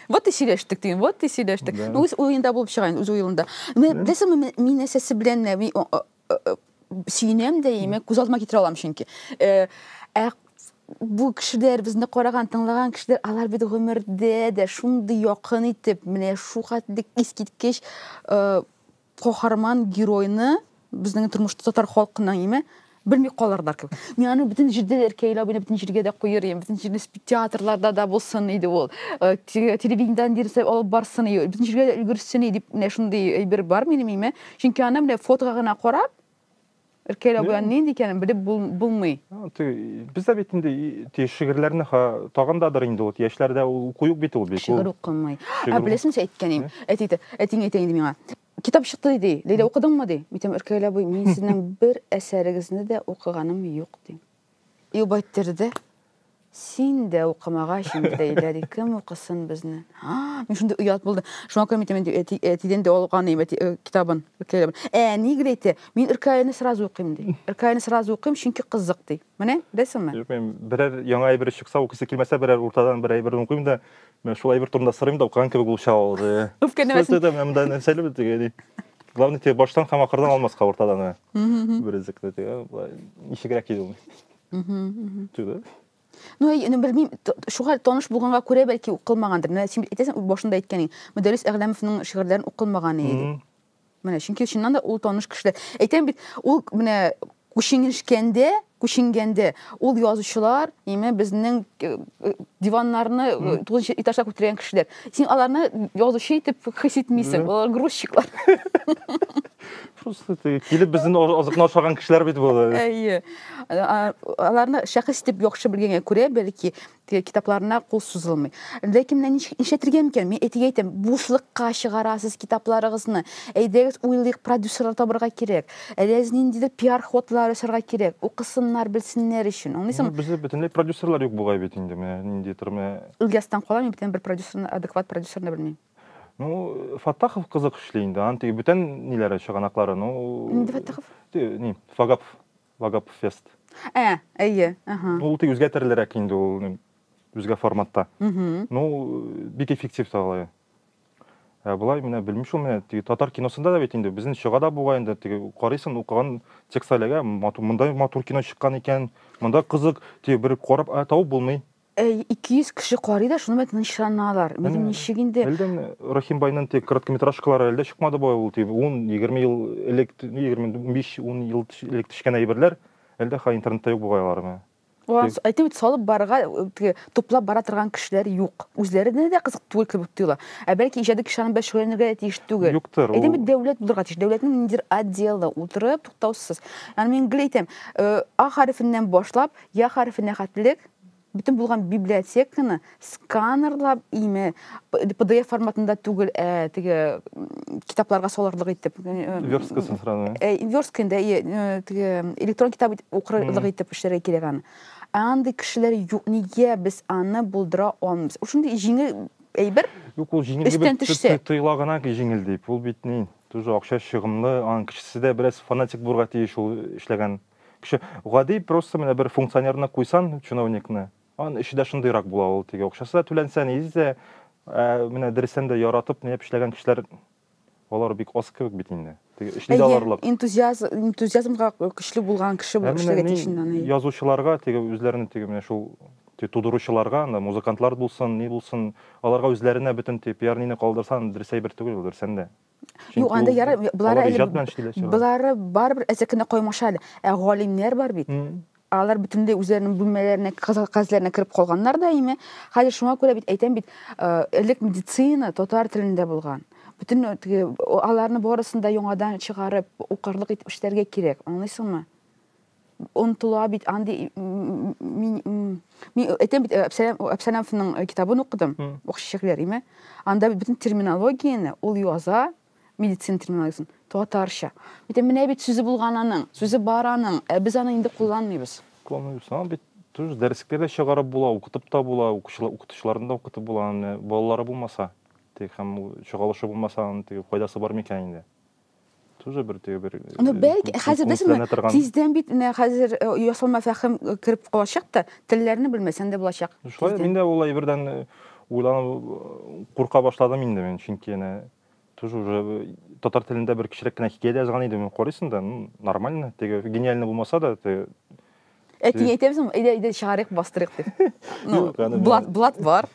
Вот и сөйләштек дим, вот и сөйләштек. Да. Үз уенда булып чыгайын, үз уелында. Мен беләсең, мин әсәсе белән мин сөенәм дә, яме күз алдыма китерә алам чөнки. Э, ә бу кешеләр безне караган, тыңлаган кешеләр, алар бит гомердә дә шундый якын итеп, менә шу хәтлек искиткеч э, каһарман геройны безнең тормышта татар халкының име белми калырлар кебек. Мин аны бөтен җирдә дә ркәйләп, бөтен бөтен җиргә дә куер идем. Бөтен җирдә театрларда да булсын иде ул. Э, телевидениедән дирсә алып барсын иде. Бөтен җиргә дә өлгерсен иде дип менә шундый әйбер бар минем име. Чөнки аны менә фотога гына карап, Эркәйләү белән нинди икәнен белеп булмый. Без дә бит инде шигырьләрне тагындадыр инде вот яшьләрдә ул куюк бит ул бит. Шигырь укымый. Ә беләсеңме син әйткәнем? Әти әтиң әйтә инде миңа. Китап чыкты ди. Ләйлә укыдыңмы ди? Митем Эркәйлә буй, мин сезнең бер әсәрегезне дә укыганым юк ди. И байттерде. Син дә укымагач инде дәйләри, кем укысын безне? А, мин шундый оят булды. Шуңа күрә мин әйтәм инде, әти, әтидән дә алган идем әти э, китабын. Ркаябын. Әни гел әйтә, мин Ркаяны сразу укыйм ди. Ркаяны сразу укыйм, чөнки кызык ди. Менә, беләсеңме? Белмим, берәр яңа әйбер чыкса, укыйсы килмәсә, берәр уртадан бер әйберне укыйм да, менә шул әйбер турында сорыйм да, укыган кебек булып чыга ул. э. Үпкәләмәсен. Сүз әйтәм, ә монда нәрсәле бит теге, ди. Главное, теге баштан һәм ахырдан алмаска уртадан. э. Берүзекне теге, былай, ничегрәк иде ул. түгел Ну, ну белмим, шуга таныш булганга күрә бәлки укылмагандыр. Менә син әйтәсең башында әйткәнең, Мөдәррис Әгъләмовның шигырьләрен укылмаган иде. Менә чөнки чыннан да ул таныш кешеләр. Әйтәм бит, ул менә күченгәндә, күченгәндә ул язучылар, яме безнең э, э, диваннарны э, тугызынчы этажга күтәргән кешеләр. Син аларны язучы итеп хис итмисең, алар грузчиклар. просто килеп безнең азыкны ашаган кешеләр бит булды әйе аларны шәхес итеп яхшы белгәнгә күрә бәлки китапларына кул сузылмый ләкин менә нишләтергә микән мин әтигә әйтәм бушлыкка чыгарасыз китапларыгызны әйдәгез уйлыйк продюсерлар табырга кирәк әләз ниндидер пиар ходлар ясарга кирәк укысыннар белсеннәр өчен аңлыйсыңмы бездә бөтенләй продюсерлар юк бугай бит инде менә ниндидер менә ильястан кала мин бүтән бер продюсерны адекват продюсерны белмим Ну, Фаттахов кызык эшли инде. Аны теге бүтән ниләре чыганаклары, ну. Нинди Фаттахов? Ни, Вагап, Вагап фест. Ә, әйе, ага. Ну, ул тик үзгә төрлерәк инде ул, үзгә форматта. Ну, бик эффектив та алай. Ә болай менә белмим шул менә теге татар киносында да бит инде безнең чыга да бугай инде теге карыйсың укыган текст әлегә монда матур кино чыккан икән, монда кызык, теге бер карап ә табып булмый. 200 кеше карый да, шуны тынычланалар. Минем ничек инде? Әлдән Рахимбайның тек короткометражкалары әлдә чыкмады бай ул дип, 10-20 ел элек, 25-10 ел элек төшкән әйберләр әлдә хәзер интернетта юк бугай алармы? Әйтеп бит салып барырга, туплап бара торган кешеләр юк. Үзләренә дә кызык түгел кебек тоела. Ә бәлки иҗади кешеләр белән шөгыльләнергә дә тиеш түгел. Юктыр. Әйтәм бит дәүләт булырга тиеш. Дәүләтнең ниндидер отделы утырып туктаусыз. Аны мин гел әйтәм, а хәрефеннән башлап, я хәрефенә хәтлек бөтен булган библиотеканы сканерлап име pdf форматында түгел ә теге китапларга салырлык итеп версткасын сразу ә верстка инде теге электрон китап укырлык итеп эшләргә кирәк аны ә андый кешеләр юк нигә без аны булдыра алмыйбыз шундый җиңел әйбер юк ул җиңел дип тоела гына җиңел дип ул бит ни тоже акча чыгымлы аның кешесе дә бераз фанатик булырга тиеш ул эшләгән Кеше, гади просто менә бер функционерны куйсан, чиновникны, ан эше дә шундыйрак була ул, теге акчасы да түләнсә, ни дисә, ә менә дөрестән дә яратып, ниеп эшләгән кешеләр, алар бик аз кебек бит инде. Теге эшли дә алырлык. Энтузиаз, энтузиазмга көчле булган кеше бу эшләргә тиеш инде аны. Язучыларга, теге үзләренең теге менә шул тудыручыларга, анда музыкантлар булсын, ни булсын, аларга үзләренә бөтен теге пиар-нине калдырсаң, дөрес әйбер түгел ул, дөрестән дә. Юк, анда яры булары әле. Иҗат белән эшлиләр. Булары барыбер әзәкенә каймаша әле. Ә галимнәр бар бит. Алар бөтенләй үзләренең бүлмәләренә, казләренә кереп калганнар да име. Хәзер шуңа күрә бит әйтәм бит, э, элек медицина татар телендә булган. Бүтән аларны барысын да яңадан чыгарып, укырлык итеп эшләргә кирәк. Аңлыйсыңмы? онтыла бит андый мин мин әйтәм бит әпсәләмовның китабын укыдым ук чәчәкләр име анда бөтен терминологияне ул яза медицина терминологиясын татарча әйтәм менә бит сүзе булган аның сүзе бар аның ә без аны инде кулланмыйбыз кулланмыйбыз аны бит тоже дәреслектә дә чыгарып була укытып та була укытучыларны да укытып була аны балалары булмаса теге һәм чагалышы булмаса аның теге файдасы бар микән инде тоже бер теге бер ну э, бәлки хәзер дәсеңме тиздән бит менә хәзер э, ясалма фәһем э, кереп калачак та телләрне белмәсәң дә булачак шулай мин дә ул әйбердән уйланып курка башладым инде мин чөнки әнә тоже уже татар телендә бер кечерәк кенә хикәя дә язган идем карыйсың да нормально теге гениально булмаса да Әтиңә әйтәбез, әйдә, әйдә чыгарыйк, бастырыйк дип. Ну, блат, блат бар.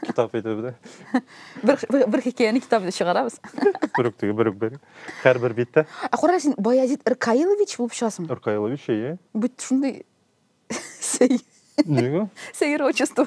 Китап итеп, да. Бер бер хикәяне китап итеп чыгарабыз. Бер үк бер үк бер. Һәр бер биттә. Ә кара син Баязит Иркаилович булып чыгасың. Иркаилович, әйе. Бит шундый сәй. Нигә? Сәер отчество.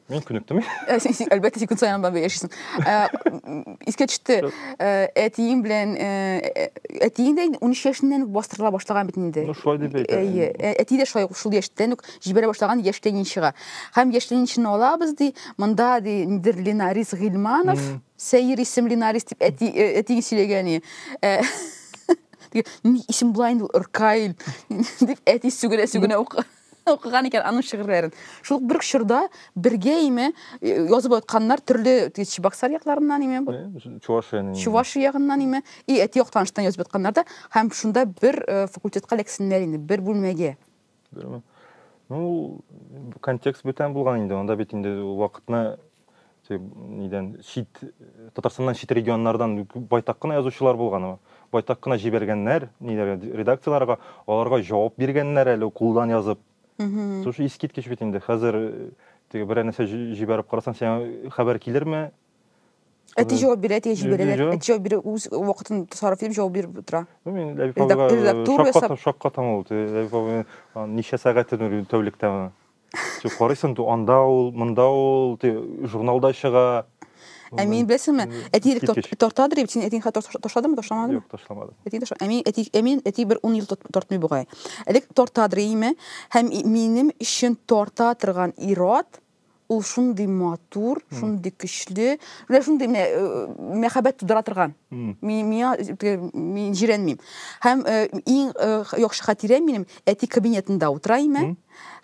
Мин күнектем. Э, әлбәттә, син көн саен анда яшисең. Э, искә төште, э, әтиең белән, әтиең дә 13 яшеннән үк бастырыла башлаган бит инде. Ну, шулай дип әйтә. Әйе, әти дә шулай шул яшьтән үк җибәрә башлаган яшь ленинчыга. Һәм яшь ленинчыны алабыз, ди, монда, ди, нидер Ленарис Гилманов, Сәйер исемле Нарис дип әти, әтиң сөйләгән иде. Исем була инде Ркаил, дип әти сүгенә-сүгенә укыды. Укыган икән аның шигырьләрен. Шул ук бер үк чорда бергә име э, язып атканнар төрле т- Чебоксар якларыннан име, бу- Э, Чувашия нинди? Чувашия ягыннан име, и әти як таныштан язып атканнар да, һәм шунда бер э, факультетка эләксеннәр инде, бер бүлмәгә. Берме? Ну, ул контекст бүтән булган инде. Анда бит инде вакытны нидән чит татарстаннан чит регионнардан байтак кына язучылар булган байтак кына җибәргәннәр ниләргә редакцияләргә аларга җавап биргәннәр әле кулдан язып шушы искиткеч бит инде хәзер э, теге берәр нәрсә җибәреп карасаң сиңа хәбәр килерме Әти җавап бирә, әти җибәрәләр. Әти җавап бирә, үз вакытын сарыф итеп җавап биреп тора. Ну, мин Ләбип абыйга шаккатам ул. Ләбип абый ничә сәгатен тәүлектә Син карыйсың, ди, анда ул, монда ул, ди, журналда чыга. Ә мин беләсеңме, әти элек тартады дип, син әтиң хәтта ташладымы, ташламадымы? Юк, ташламадым. Әти ташла. Ә мин әти, ә мин әти бер 10 ел тартмый бугай. Элек тартады име? Һәм минем өчен тарта торган ират ул шундый матур, шундый көчле, менә шундый менә э, мәхәббәт тудыра торган. Мин миңа мин җирәнмим. Һәм э, иң э, яхшы хатирәм минем әти кабинетында утыра име?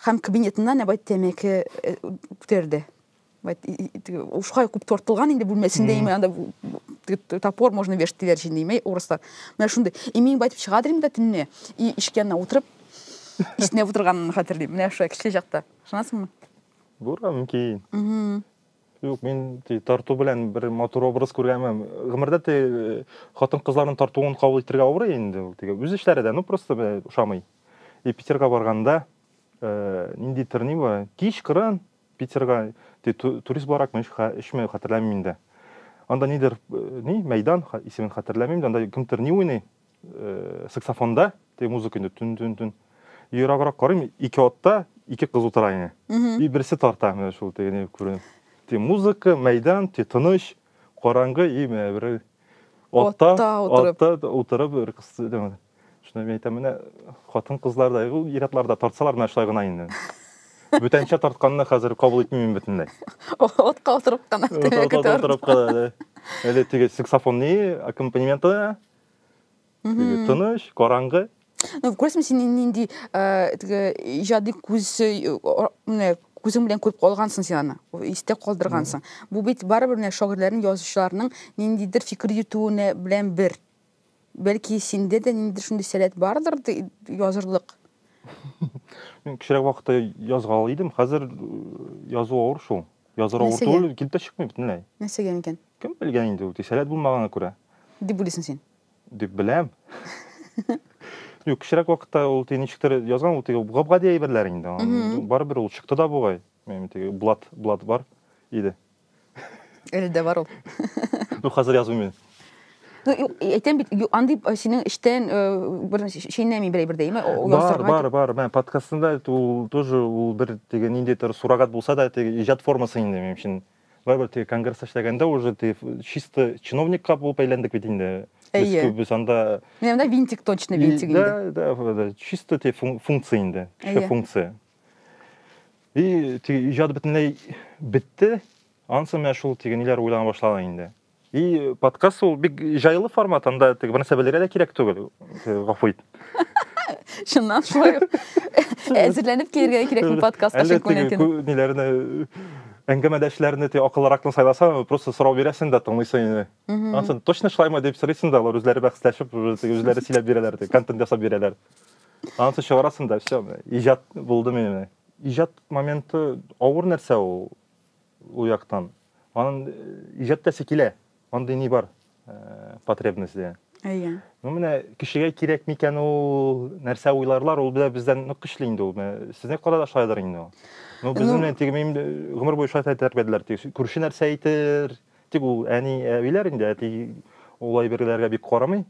Һәм кабинетыннан әбай тәмәке э, күтәрде. Ушкай күп тортылган инде бүлмәсендә име анда топор можно вешать диләр җинде име урыслар. Менә шундый. И мин байтып чыга дим дә төнне. И ишек янына утырып иснәп утырганын хәтерлим. Менә шулай кечкенә чакта. Ышанасыңмы? Булган мөмкин. Юк, мин тарту белән бер матур образ күргәнмен. Гомердә ти хатын кызларның тартуын кабул итәргә авыр инде ул тиге. Үз эшләре дә, ну просто ошамый. И Питерга барганда э, нинди терни бар? Кич кырын Питерга ти турист буларак мин эшме хәтерләмим инде. Анда нидер э, ни мәйдан исемен хәтерләмим, анда кемтер ни уйный. Э, саксофонда теге музыка инде түн түн түн ераграк карыйм ике атта ике кыз утыра ине и берсе тарта менә шул теге не күренеп те музыка мәйдан те тыныч караңгы и менә бер атта атта утырып бер кыз шуны мен әйтәм менә хатын кызларда ул ир атларда тартсалар менә шулай гына инде бүтәнчә тартканны хәзер кабул итмим бөтенләй отка утырып кына отка утырып кына әле теге саксофонный аккомпанементы Теге тыныч, караңгы. Ну, күрәсең, син нинди э, теге иҗади күз э, менә күзең белән күреп калгансың син аны, истә калдыргансың. Бу бит барыбер менә шагыйрьләрнең, язучыларның ниндидер фикер йөтүенә белән бер. Бәлки синдә дә ниндидер шундый сәләт бардыр язырлык. Мин кечерәк вакытта язган идем, хәзер э, язу авыр шул. Языр авыр Нәрсәгә? түгел, килеп тә чыкмый бөтенләй. Нәрсәгә микән? Кем белгән инде ул, тисәләт булмагана күрә. Дип уйлыйсың син? Дип беләм. Юк, кечерәк вакытта ул теге ничектер язган, ул теге гап-гади әйберләр инде. Ан- Мгм. Барыбер ул чыкты да бугай. Минем теге блат, блат бар иде. Әле дә бар ул. Ну, хәзер язмыйм мин. Ну, әйтәм бит, андый э, синең эштән э, бер шәйнәми берәй бер дәйме? Бар, бар, бар. Мен подкастында ул тоже ул бер теге ниндидер сурагат булса да, теге иҗат формасы инде минем өчен. Барыбер теге конгресс эшләгәндә уже ты чисто чиновникка булып әйләндек бит инде. Без күбез анда... Менә монда винтик точно винтик инде. Да, да, да, чисто те функция инде, кеше функция. И теге иҗат бөтенләй бетте, ансы менә шул теге ниләр уйлана башлады инде. И подкаст ул бик җайлы формат, анда теге бернәрсә белергә дә кирәк түгел. Гафу ит. Чыннан шулай. Әзерләнеп килергә кирәкме подкаст ачык күнәтен? Ниләрне әңгәмәдәшләрне ти акыллыракны сайласаң, просто сорау бирәсең дә тыңлыйсың инде. Ансын точно шулаймы дип сорыйсың да, алар үзләре бәхәсләшеп, үзләре сөйләп бирәләр, контент ясап бирәләр. Ансын чыгарасың да, все, иҗат булды менә. Иҗат моменты авыр нәрсә ул. ул яктан анын ижаттасы килә андый ни бар потребность дия әйе ну менә кешегә кирәк микән ул нәрсә уйларлар ул бездән нык көчле инде ул сезнең кара да шулайдыр инде ул ну безне менә теге мин гомер буе шулай тәрбияләделәр теге күрше нәрсә әйтер тик ул әни әбиләр инде әти ул әйберләргә бик карамый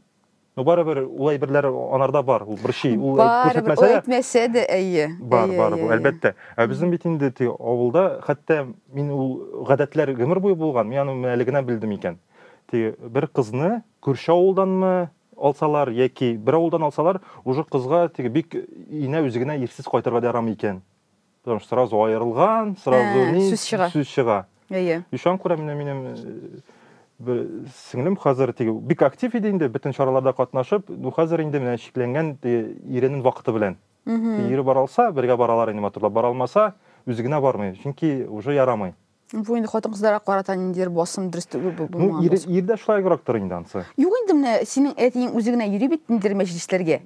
Ну барыбер ул әйберләр анарда бар, ул бер ши, ул күрсәтмәсә дә. Әйтмәсә дә, әйе. Бар, бар бу, әлбәттә. Ә безнең бит инде теге авылда, хәтта мин ул гадәтләр гомер буе булган, мин аны әле генә белдем икән. Теге бер кызны күрше авылданмы алсалар яки бер авылдан алсалар, уже кызга теге бик инә үзе генә ирсез кайтырга да ярамый икән. Потому что сразу аерылган, сразу Ә, ни, сүз чыга. сүз чыга. Әйе. И шуңа күрә менә минем э, бер сеңлем хәзер теге бик актив иде инде, бөтен чараларда катнашып, ну хәзер инде менә чикләнгән теге иренең вакыты белән. Теге Ире бара алса, бергә баралар инде матурлап, бара алмаса, үзе генә бармый, чөнки уже ярамый. Бу инде хатын-кызларга карата ниндидер басым дөрес түгел бу Ну, булмаган ир, басым. ирдә шулайгырактыр инде ансы. Юк инде менә синең әтиең үзе генә йөри бит ниндидер мәҗлесләргә.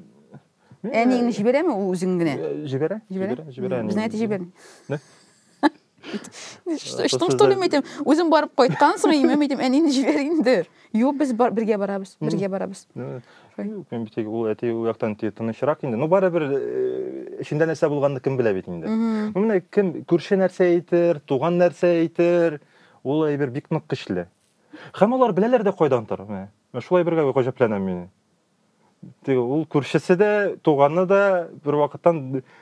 Мин, э, Әниеңне җибәрәме ул үзең генә? э, Җибәрә, Җибәрә? җибәрә, җибәрә. Мм, әни. Безнең әти җибәрми. Нә? Что, что, что ли, мәйтәм, үзем барып кайткансың, имәм, мәйтәм, әнине җибәр инде. Юк, без бар, бергә барабыз, бергә барабыз. Ну, Юк, мин бит ул әти ул яктан тынычрак инде. Ну барыбер эчендә нәрсә булганны кем белә бит инде. Ну менә кем күрше нәрсә әйтер, туган нәрсә әйтер, ул әйбер бик нык көчле. Һәм алар беләләр дә кайдан тор. Менә шулай бергә гаҗәпләнәм мин. Ул күршесе дә, туганы да бер вакыттан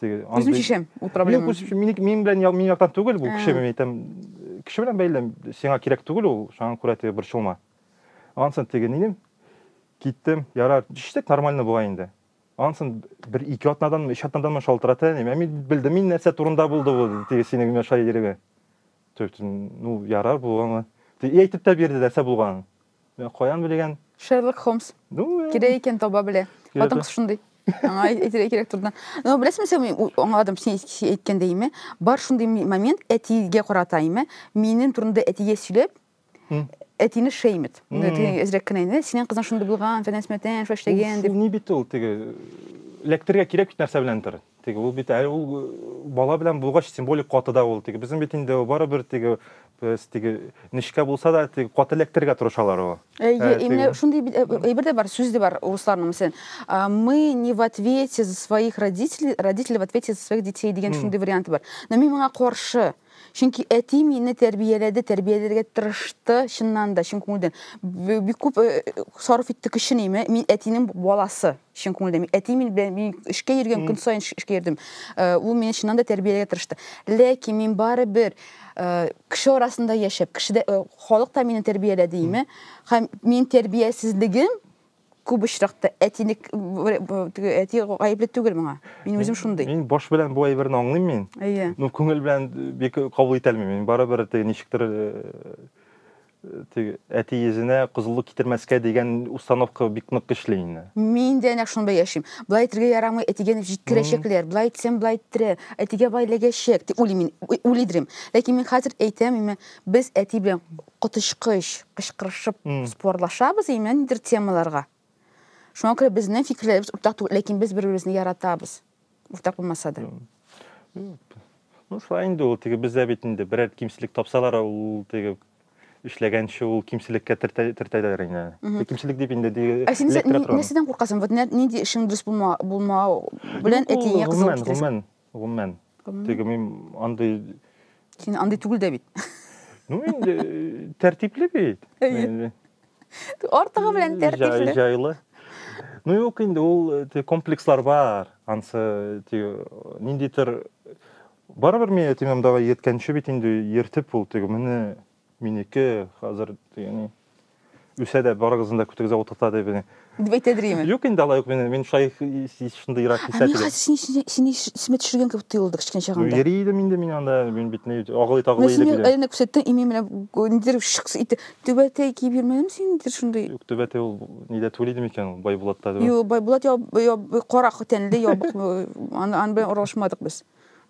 теге үзем шешәм ул проблема юк минем белән минем яктан түгел бу кеше мин әйтәм кеше белән бәйле сиңа кирәк түгел ул шуңа күрә теге борчылма ансын теге нидем киттем ярар төштек нормально була инде ансын бер ике атнаданмы өч атнаданмы шалтырата әни мин белдем мин нәрсә турында булды бу теге синең миша иреге ну ярар булган и әйтеп тә бирде нәрсә булганын Ә каян белгән? Шерлок Холмс. Кирәк икән таба белә. Хатын кыз шундый. Аңа әйтергә кирәк турыдан. Но беләсеңме син мин аңладым син әйткәндә име? Бар шундый момент әтигә карата име? Минем турында әтигә сөйләп, әтине шеймит. Әзрәк кенә инде. Синең кызың шундый булган, фәнәсмәтән, шаштеген дип. Ул ни бит ул теге эләктергә кирәк бит нәрсә беләндер. Теге ул бит әле ул бала белән булгач символик каты да ул теге безнең бит инде барыбер теге без теге нечкә булса да теге каты эләктерергә тырышалар ул. Әйе, именно шундый әйбер дә бар, сүз дә бар русларның мисен. Мы не в ответе за своих родителей, родители в ответе за своих детей дигән шундый варианты бар. Но мин моңа каршы. Чөнки әти мине тәрбияләде, тәрбияләргә тырышты, чыннан да, чын күңелдән. Бик күп э, сарыф итте көчен име. Мин әтинең баласы, чын күңелдән. Әти мин белән мин эшкә йөргән көн саен эшкә йөрдем. Э, ул мине чыннан да тәрбияләргә тырышты. Ләкин мин бары бер э, кеше арасында яшәп, кешедә халык та мине тәрбияләде име. Һәм мин тәрбиясезлегем күп очракта әтинек теге әти гаепле түгел моңа. Мин үзем шундый. Мин баш белән бу әйберне аңлыйм мин. Әйе. Ну күңел белән бик кабул итә алмыйм. Мин барыбер теге ничектер теге әти йөзенә кызыллык китермәскә дигән установка бик нык көчле инде. Мин дә нәкъ шунда яшим. Былай итергә ярамый, әтигә дип җиткерәчәкләр. Былай итсәм, былай иттерә. Әтигә бай ләгәчәк дип уйлыйм мин, уйлыйдырым. Ләкин мин хәзер әйтәм, мин без әти белән коточкыч кычкырышып спорлашабыз именно ниндидер темаларга. Шуңа күрә безнең фикерләребез уртак түгел, ләкин без бер-беребезне яратабыз. Уртак булмаса да. Ну, шулай инде ул теге бездә бит инде берәр кимчелек тапсалар, ул теге эшләгәнче ул кимчелеккә төртәләр инде. Теге кимчелек дип инде диге. Ә син нәрсәдән куркасың? Вот нинди эшең дөрес булмау белән әтиеңә кызыл китерәсең? Гомумән. Теге мин андый Син андый түгел дә бит. Ну, инде тәртипле бит. Артыгы белән тәртипле. Җайлы. Ну, юк инде ул комплекслар бар. Ансы ниндидер барыбер мин әти-мамдага йөрткәнче бит инде йөртеп ул теге менә Минеке хәзер дигән үсә дә барыгызны да көтегезгә утырта дип дип әйтә дриме юк инде алай ук мин мин шулай шундыйрак хис итәм хәзер син син исемә төшергән кебек тоелды кечкенә чагымда йөри идем инде мин анда мин бит ни агылый тагылый идем син әйләнеп күрсәттең и мин менә нидер шыкс итте түбәтәй киеп йөрмәдем син нидер шундый юк түбәтәй ул нидә түгел иде микән байбулатта юк байбулат кара тәнле ябык аны белән аралашмадык без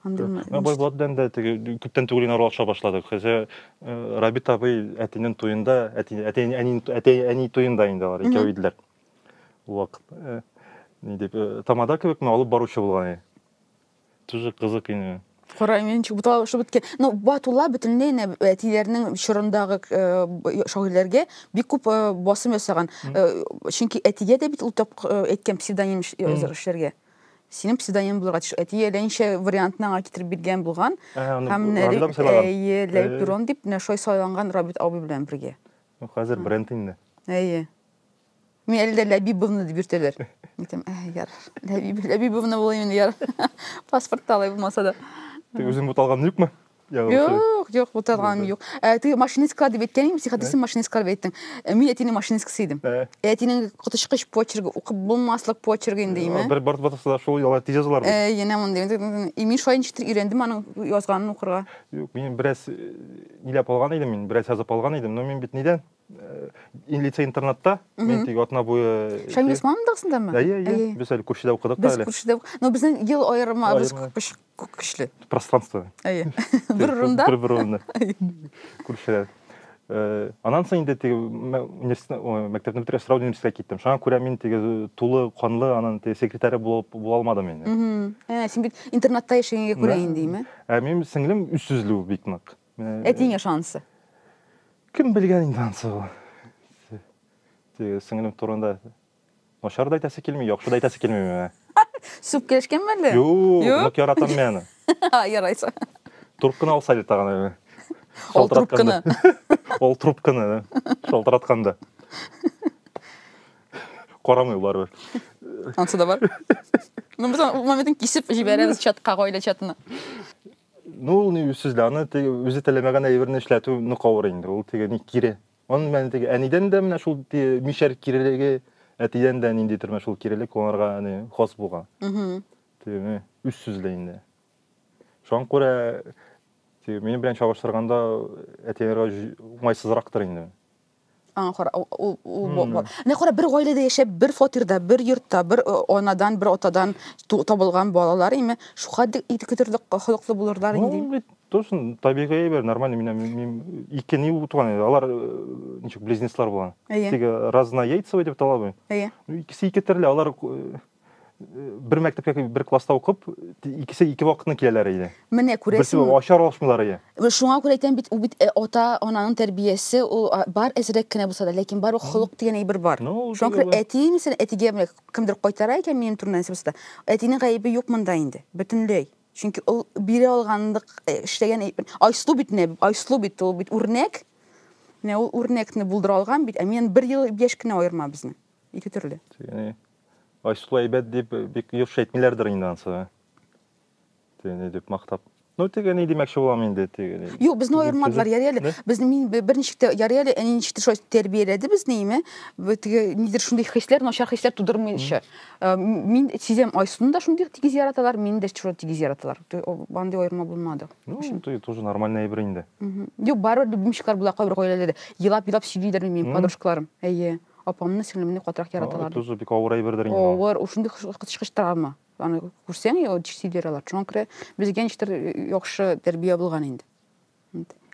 Андый м- Ә бай Булат белән дә теге күптән түгел генә аралаша башладык. Хәзер э, Рабит абый әтинең туенда, әти, әти, әни, әти, әни туенда инде алар икәү иделәр. Ул вакыт э, ни дип, э, тамада кебекме алып баручы булган иде. Тоже кызык иде. Кара менчик буталышып беткән. Ну, Батулла бөтенләй инде әтиләренең чорындагы э, б- шагыйрьләргә бик күп э, басым ясаган. Э, Чөнки әтигә дә бит ул тап э, әйткән псевдоним эш- язар эшләргә. Синең псевдоним булырга тиеш. Әти әллә ничә вариантны аңа китереп биргән булган. Һәм әйе, Ләйк Дурон дип менә шулай сайланган Рабит абый белән бергә. Ну, хәзер бренд инде. Әйе. Мин әле дә Ләбибовна дип йөртәләр. Әйтәм, ә, яр, Ләбиб, Ләбибовна булыйм инде, яр. Паспортта алай булмаса да. Тик үзең буталган юкмы? Юк, юк, юк, утырганым юк. Ә ты машинисткалар дип әйткән идең, психотриса машинисткалар дип әйттең. Ә Мин әтинең машинисткасы идем. Ә. Әтинең коточкыч почерги, укып булмаслык почерги инде име? Бер бар батасы да шул яла тиз язылар бит. Ә, янә мондый. И мин шулай ничектер өйрәндем аның язганын укырга. Юк, мин бераз ниләп алган идем мин, бераз язып алган идем, но мин бит нидән? Ин лицей интернатта, мин тик атна буе... Шәмил Усманов дәгсендәме? Әйе, әйе. Без әле күршедә укыдык та әле. Без күршедә укыдык. Но безнең ел аерымы, без күп көчле. Пространство. Әйе. Бер урында. Бер бер урында. Күршеләр. Э, анан соң инде теге мәктәпне бетереп сразу университетка киттем шуңа күрә мин теге э, тулы канлы анын теге секретаре булып була алмадым инде ә син бит интернатта яшәгәнгә күрә инде име ә минем сеңлем үз сүзле бик нык Әтиңә шансы. Кем белгән инде ансы ул. Теге сеңлем турында начар да әйтәсе килми, яхшы да әйтәсе килми миңа. Сүп килешкән мәллә? Юк, нык яратам мин аны. Ярайса. Трубканы алса әле тагын. Ул трубканы. Ул трубканы шалтыратканда. Карамый барыбер. Ансы да бар. Ну, без моментын кисеп җибәрәбез чатка, гаилә чатына. Ну, ул ни сүз дә, аны теге үзе теләмәгән әйберне эшләтү нык авыр инде. Ул теге ни кире. Аны мен теге әнидән дә менә шул мишәр кирелеге, әтидән дә нинди төрмә шул кирелек кулланырга аны хас булган. Теге үз сүзле инде. Шуңа күрә теге минем белән чагыштырганда әтиләргә уңайсызрактыр инде. Аңа кара, ул, ул, ул бо- бо- Менә кара, бер гаиләдә яшәп, бер фатирда, бер йортта, бер э, анадан, бер атадан ту- табылган балалар име, шухадик ике төрле холыклы булырлар Ну, инде. бит тосын табигый әйбер, нормально менә мин- мин ике ни булып туган иде. Алар э, ничек близнецлар булган. Әйе. Теге разнояйцевый дип талабый. Әйе. Ну, икесе ике төрле, алар э, бер мәктәптә бер класста укып, икесе ике вакытны киләләр иде. Менә күрәсең. Берсе ачар алышмыйлар иде. Шуңа күрә әйтәм бит, ул бит э, ата, ананың тәрбиясе, ул бар әзрәк кенә булса да, ләкин бар холык дигән әйбер бар. Ну, Шуңа күрә әти, мисәлән, әтигә менә кемдер кайтара икән минем турында нәрсә булса да, әтинең гаебе юк монда инде, бөтенләй. Чөнки ул бирә алганлык э, эшләгән Айсылу бит менә, Айсылу бит ул бит үрнәк. Менә ул үрнәкне булдыра алган бит, ә миннән бер ел яшь кенә аерма безне. Ике төрле. Айсылу әйбәт дип бик юрш әйтмиләрдер инде ансы. Тиген ни дип мактап. Ну тиген ни димәкче булам инде тиген. Юк, безне аермадылар, яри әле. Без мин берничек тә яри әле, әни ничек тә шулай тәрбияләде безне, име? Теге нидер шундый хисләр, начар хисләр тудырмыйча. Э, мин сизәм, Айсуны да шундый тигез яраталар, мине дә шулай тигез яраталар. Бандый аерма булмады. Ну, ты тоже нормальный әйбер инде. Юк, барыбер любимчиклар була кайбер гаиләләрдә. Елап-елап сөйлиләр минем подружкаларым. Әйе. Апамны, сеңлемне катырак яраталар. Тузы бик авыр әйбердер инде. Авыр, ул шундый кычкыч травма. Аны күрсәң, ул сидер алар. Шуңа күрә безгә ничектер яхшы тәрбия булган инде.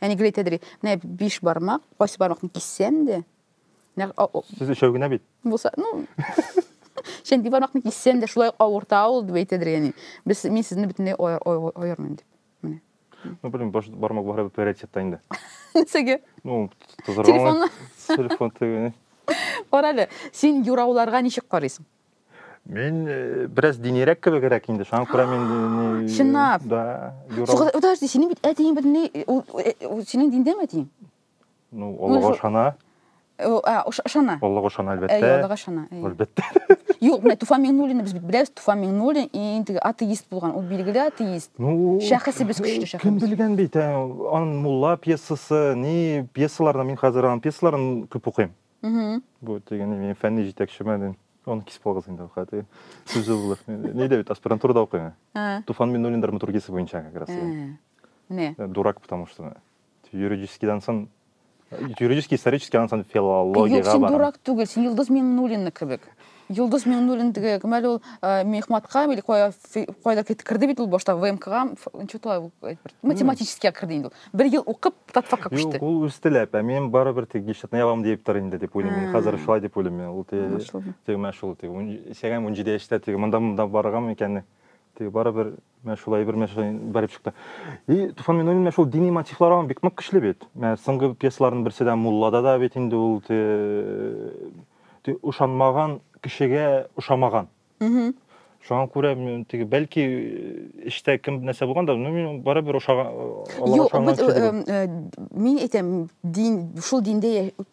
Әни гел әйтәдер, менә биш бармак, кайсы бармакны киссәң дә, Сез өчәү генә бит. Булса, ну, чәнди бармакны киссәң дә шулай авырта ул дип әйтәдер, яни. Без мин сезне бөтенләй аермыйм дип. Менә. Ну, блин, баш бармак бары бер приоритетта инде. Нисеге? Ну, тозырга. Телефонны. Телефон тегене. Кара әле, син юрауларга ничек карыйсың? Мин э, бераз динирәк кебегрәк инде, шуңа күрә мин э, не- Чынлап? Да, юрау. Подожди, синең бит әтиең бит ни, ул- э, ул- синең диндәме әтиең? Ну, Аллага ышана. Ышана. Аллага ышана, әлбәттә. Әйе, Аллага ышана. Әлбәттә. Юк, менә Туфан Миңнуллинны без бит беләбез. Туфан Миңнуллин инде атеист булган, ул билгеле атеист. Ну, шәхесе без көчле шәхес. Кем белгән бит, ан мулла пьесасы, ни пьесаларны мин хәзер ан пьесаларын күп укыйм. Бу дигән мин фәнни җитәкчеме дим. Аны кисеп алгыз инде хәтер. Сүзе булыр. Ни дә бит аспирантурада укыйм. Туфан Миңнуллин драматургиясе буенча как раз. Менә. Дурак потому что. Юридическийдан сон юридический исторический аннан сон филологиягә Юк, син дурак түгел, син Йолдыз Миңнуллина кебек. Йолдыз Миңнуллин теге мәл ул э, мехматка или кая кайда керде бит ул башта ВМКга, ничего тулай ул математическийга керде инде ул. Бер ел укып татфакка күчте. Юк, ул үз теләп, ә мин барыбер теге гишетне ябам дип тор инде дип уйлыйм. Мин хәзер шулай дип уйлыйм. Ул теге теге мәшул теге. Сәгәм 17 яшьтә теге монда монда барган икән. Теге барыбер Менә шулай бер мәшәкә барып чыкты. И Туфан Минуллин менә шул дини мотивлар аңа бик нык көчле бит. Менә соңгы пьесаларның берсе дә Муллада да бит инде ул ошанмаган кешегә ошамаган. Шуңа күрә теге бәлки эштә кем нәрсә булган да, ну мин барыбер ошаган. Юк, мин әйтәм, дин шул диндә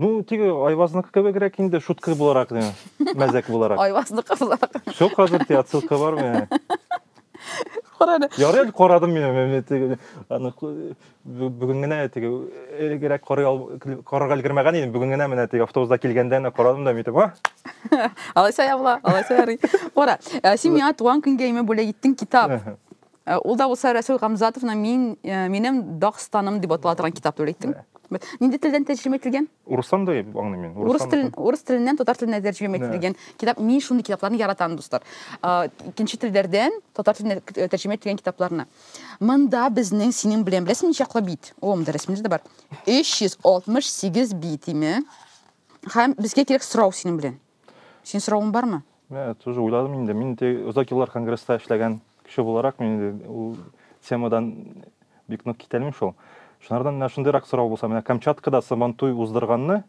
Ну, теге Айвазныкы кебегрәк инде, шутка буларак, мәзәк буларак. Айвазныкы буларак. Все, хәзер те отсылка бар менә. Карады. Ярый әле карадым мин менә теге аны бүген генә теге элегрәк карый ал карарга өлгермәгән идем. Бүген генә менә теге автобуста килгәндә генә карадым да митеп, а? Алайса ябла, алайса ярый. Кара, э, син миңа туган көнгә име бүләк иттең китап. Э, ул да булса Рәсүл Гамзатовның мин э, минем Дагстаным дип атала торган китап түгел әйттем. Нинди телдән тәрҗемә ителгән? Урыстан да аңлыйм мин. Урыс телен урыс теленнән татар теленә тәрҗемә ителгән китап. Мин шундый китапларны яратам, дуслар. Э, икенче телләрдән татар теленә тәрҗемә ителгән китапларны. Монда безнең синең белән беләсең ничаклы бит? О, монда рәсемнәр дә бар. 368 бит име? Һәм безгә кирәк сорау синең белән. Син соравың бармы? Мә, тоже уйладым инде. Мин те озак еллар конгресста эшләгән кеше буларак, мин инде ул темадан бик нык китәлмим шул. Шунардан менә шундыйрак сорау булса, менә Камчаткада Сабантуй уздырганны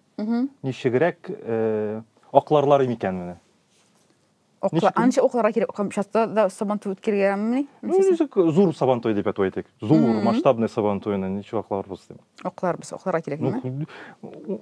ничегрәк э, акларлар микән менә? Окла, анча окларга кирәк, Камчатта да Сабантуй үткәргәнмени? Ну, ничек зур Сабантуй дип әйтеп әйтик. Зур, масштабный Сабантуйны ничек акларбыз дип. Окларбыз, окларга кирәк, ну,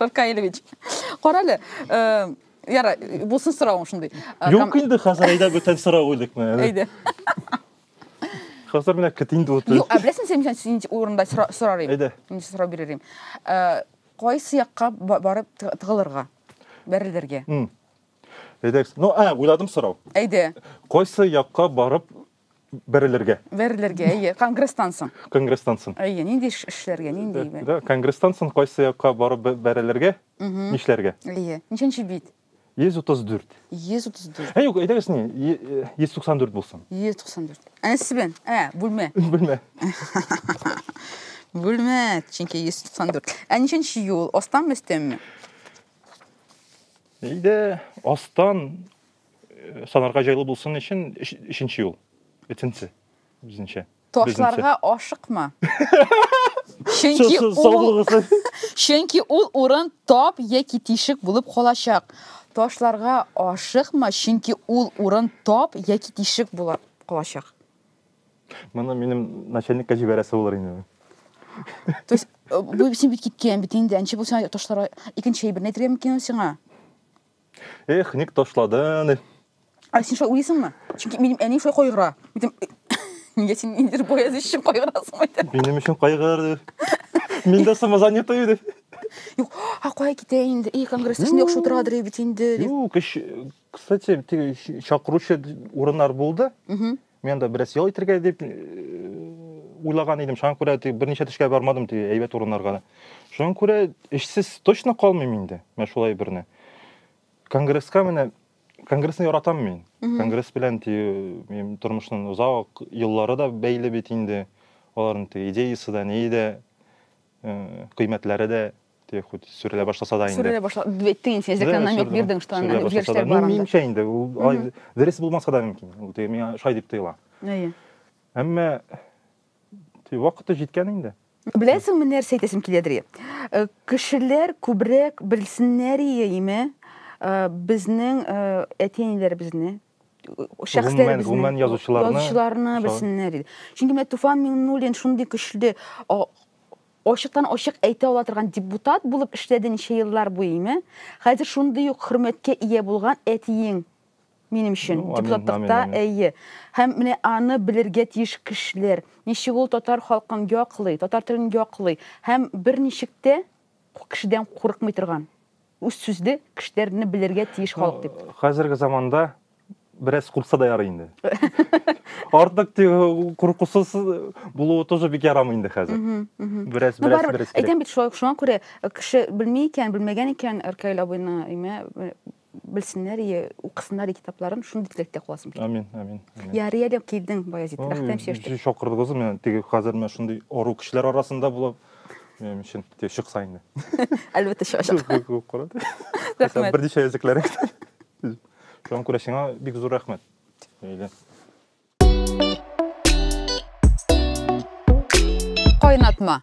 Ркаилевич, кара әле, э, яра, булсын соравың шундый. Э, Юк инде, хәзер әйдә бүтән сорау эликме? Әйдә. Хәзер менә кет инде утыр. Юк, ә беләсең син мисән син урында сорар идем. Әйдә. Мин сорау бирер идем. Э, кайсы якка барып тыгылырга? Бәрелергә. Әйдә. Ну, а, уйладым сорау. Әйдә. Кайсы якка барып бәрелергә бәрелергә әйе конгресстан соң конгресстан соң әйе нинди эш эшләргә нинди э, да конгресстан соң кайсы якка барып бәрелергә нишләргә әйе ничәнче бит 134. 134. Ә юк, әйдәгез не, 194 э, булсын. 194. Әнә сез белән. Ә, бүлмә. Бүлмә. Бүлмә, чөнки 194. Ә ничәнче юл? Астан өстәнме? Әйдә, астан Санарга җайлы булсын өчен өченче юл. Өченче. Безнеңчә. Ташларга ашыкма. Чөнки ул Чөнки ул урын тап яки тишек булып калачак. Ташларга ашыкма, чөнки ул урын тап яки тишек булып калачак. Моны минем начальникка җибәрәсе булыр инде. То есть, э, бу син бит киткән бит инде, әнче булсаң ташлар икенче әйберне әйтергә мөмкин сиңа. Эх, ник ташладың? Ә син шулай уйлыйсыңмы? Чөнки минем әни шулай кайгыра. Үтем Нигә син инде бояз өчен кайгырасың ди. Минем өчен кайгыр ди. Мин дә самозанятый ди. Юк, а кая китә инде? И, конгрессның ну, яхшы утырадыр бит инде. Юк, кстати, чакыручы урыннар булды. Угу. Мен да бераз ял итергә дип уйлаган идем. Шуңа күрә берничә төшкә бармадым ди әйбәт урыннарга. Шуңа күрә эшсез точно калмыйм инде. Менә шулай берне. Конгресска менә конгрессны яратам мин. Конгресс белән ди минем тормышның озак еллары да бәйле бит инде. Аларның идеясы да, ни дә, кыйммәтләре дә те хоть сүрелә башласа да инде сүрелә башла әйттең инде син җәккә намек бирдең что анда үзгәрешләр бар минемчә инде ул дөрес булмаска да мөмкин ул теге миңа шулай дип тоела әйе әмма вакыты җиткән инде беләсеңме нәрсә әйтәсем киләдер э, кешеләр күбрәк белсеннәр иеме э, безнең э, әти әниләребезне шәхесләребезне гомумән язучыларны язучыларны белсеннәр иде чөнки менә туфан миңнуллин шундый көчле Ачыктан-ачык әйтә ала торган депутат булып эшләде ничә еллар буеме? Хәзер шундый ук хөрмәткә ия булган әтиең, минем өчен, депутатлыкта, әйе. Һәм менә аны белергә тиеш кешеләр, ничек ул татар халкын яклый, татар телен яклый һәм берничек тә кешедән курыкмый торган. Үз сүзле кешеләрне белергә тиеш халык дип. Хәзерге заманда бераз куркса да ярый инде. Артык куркусыз булуы тоже бик ярамый инде хәзер. Бераз бераз бераз. Әйтәм бит шулай шуңа күрә э, кеше белми икән, белмәгән икән Ркаил абыйны имә э, белсеннәр и укысыннар и китапларын шундый теләктә каласым килә. Амин, амин. Ярый әле килдең Баязит, рәхмәт чәчтек. Шакырдыгыз, мен теге хәзер мен шундый ару кешеләр арасында булып Минем өчен тиз чыкса инде. Әлбәттә чыгачак. Күп курат. Рәхмәт. Бер дишә языклар. Шуңа күрә сиңа бик зур рәхмәт. Әйдә. Кайнатма.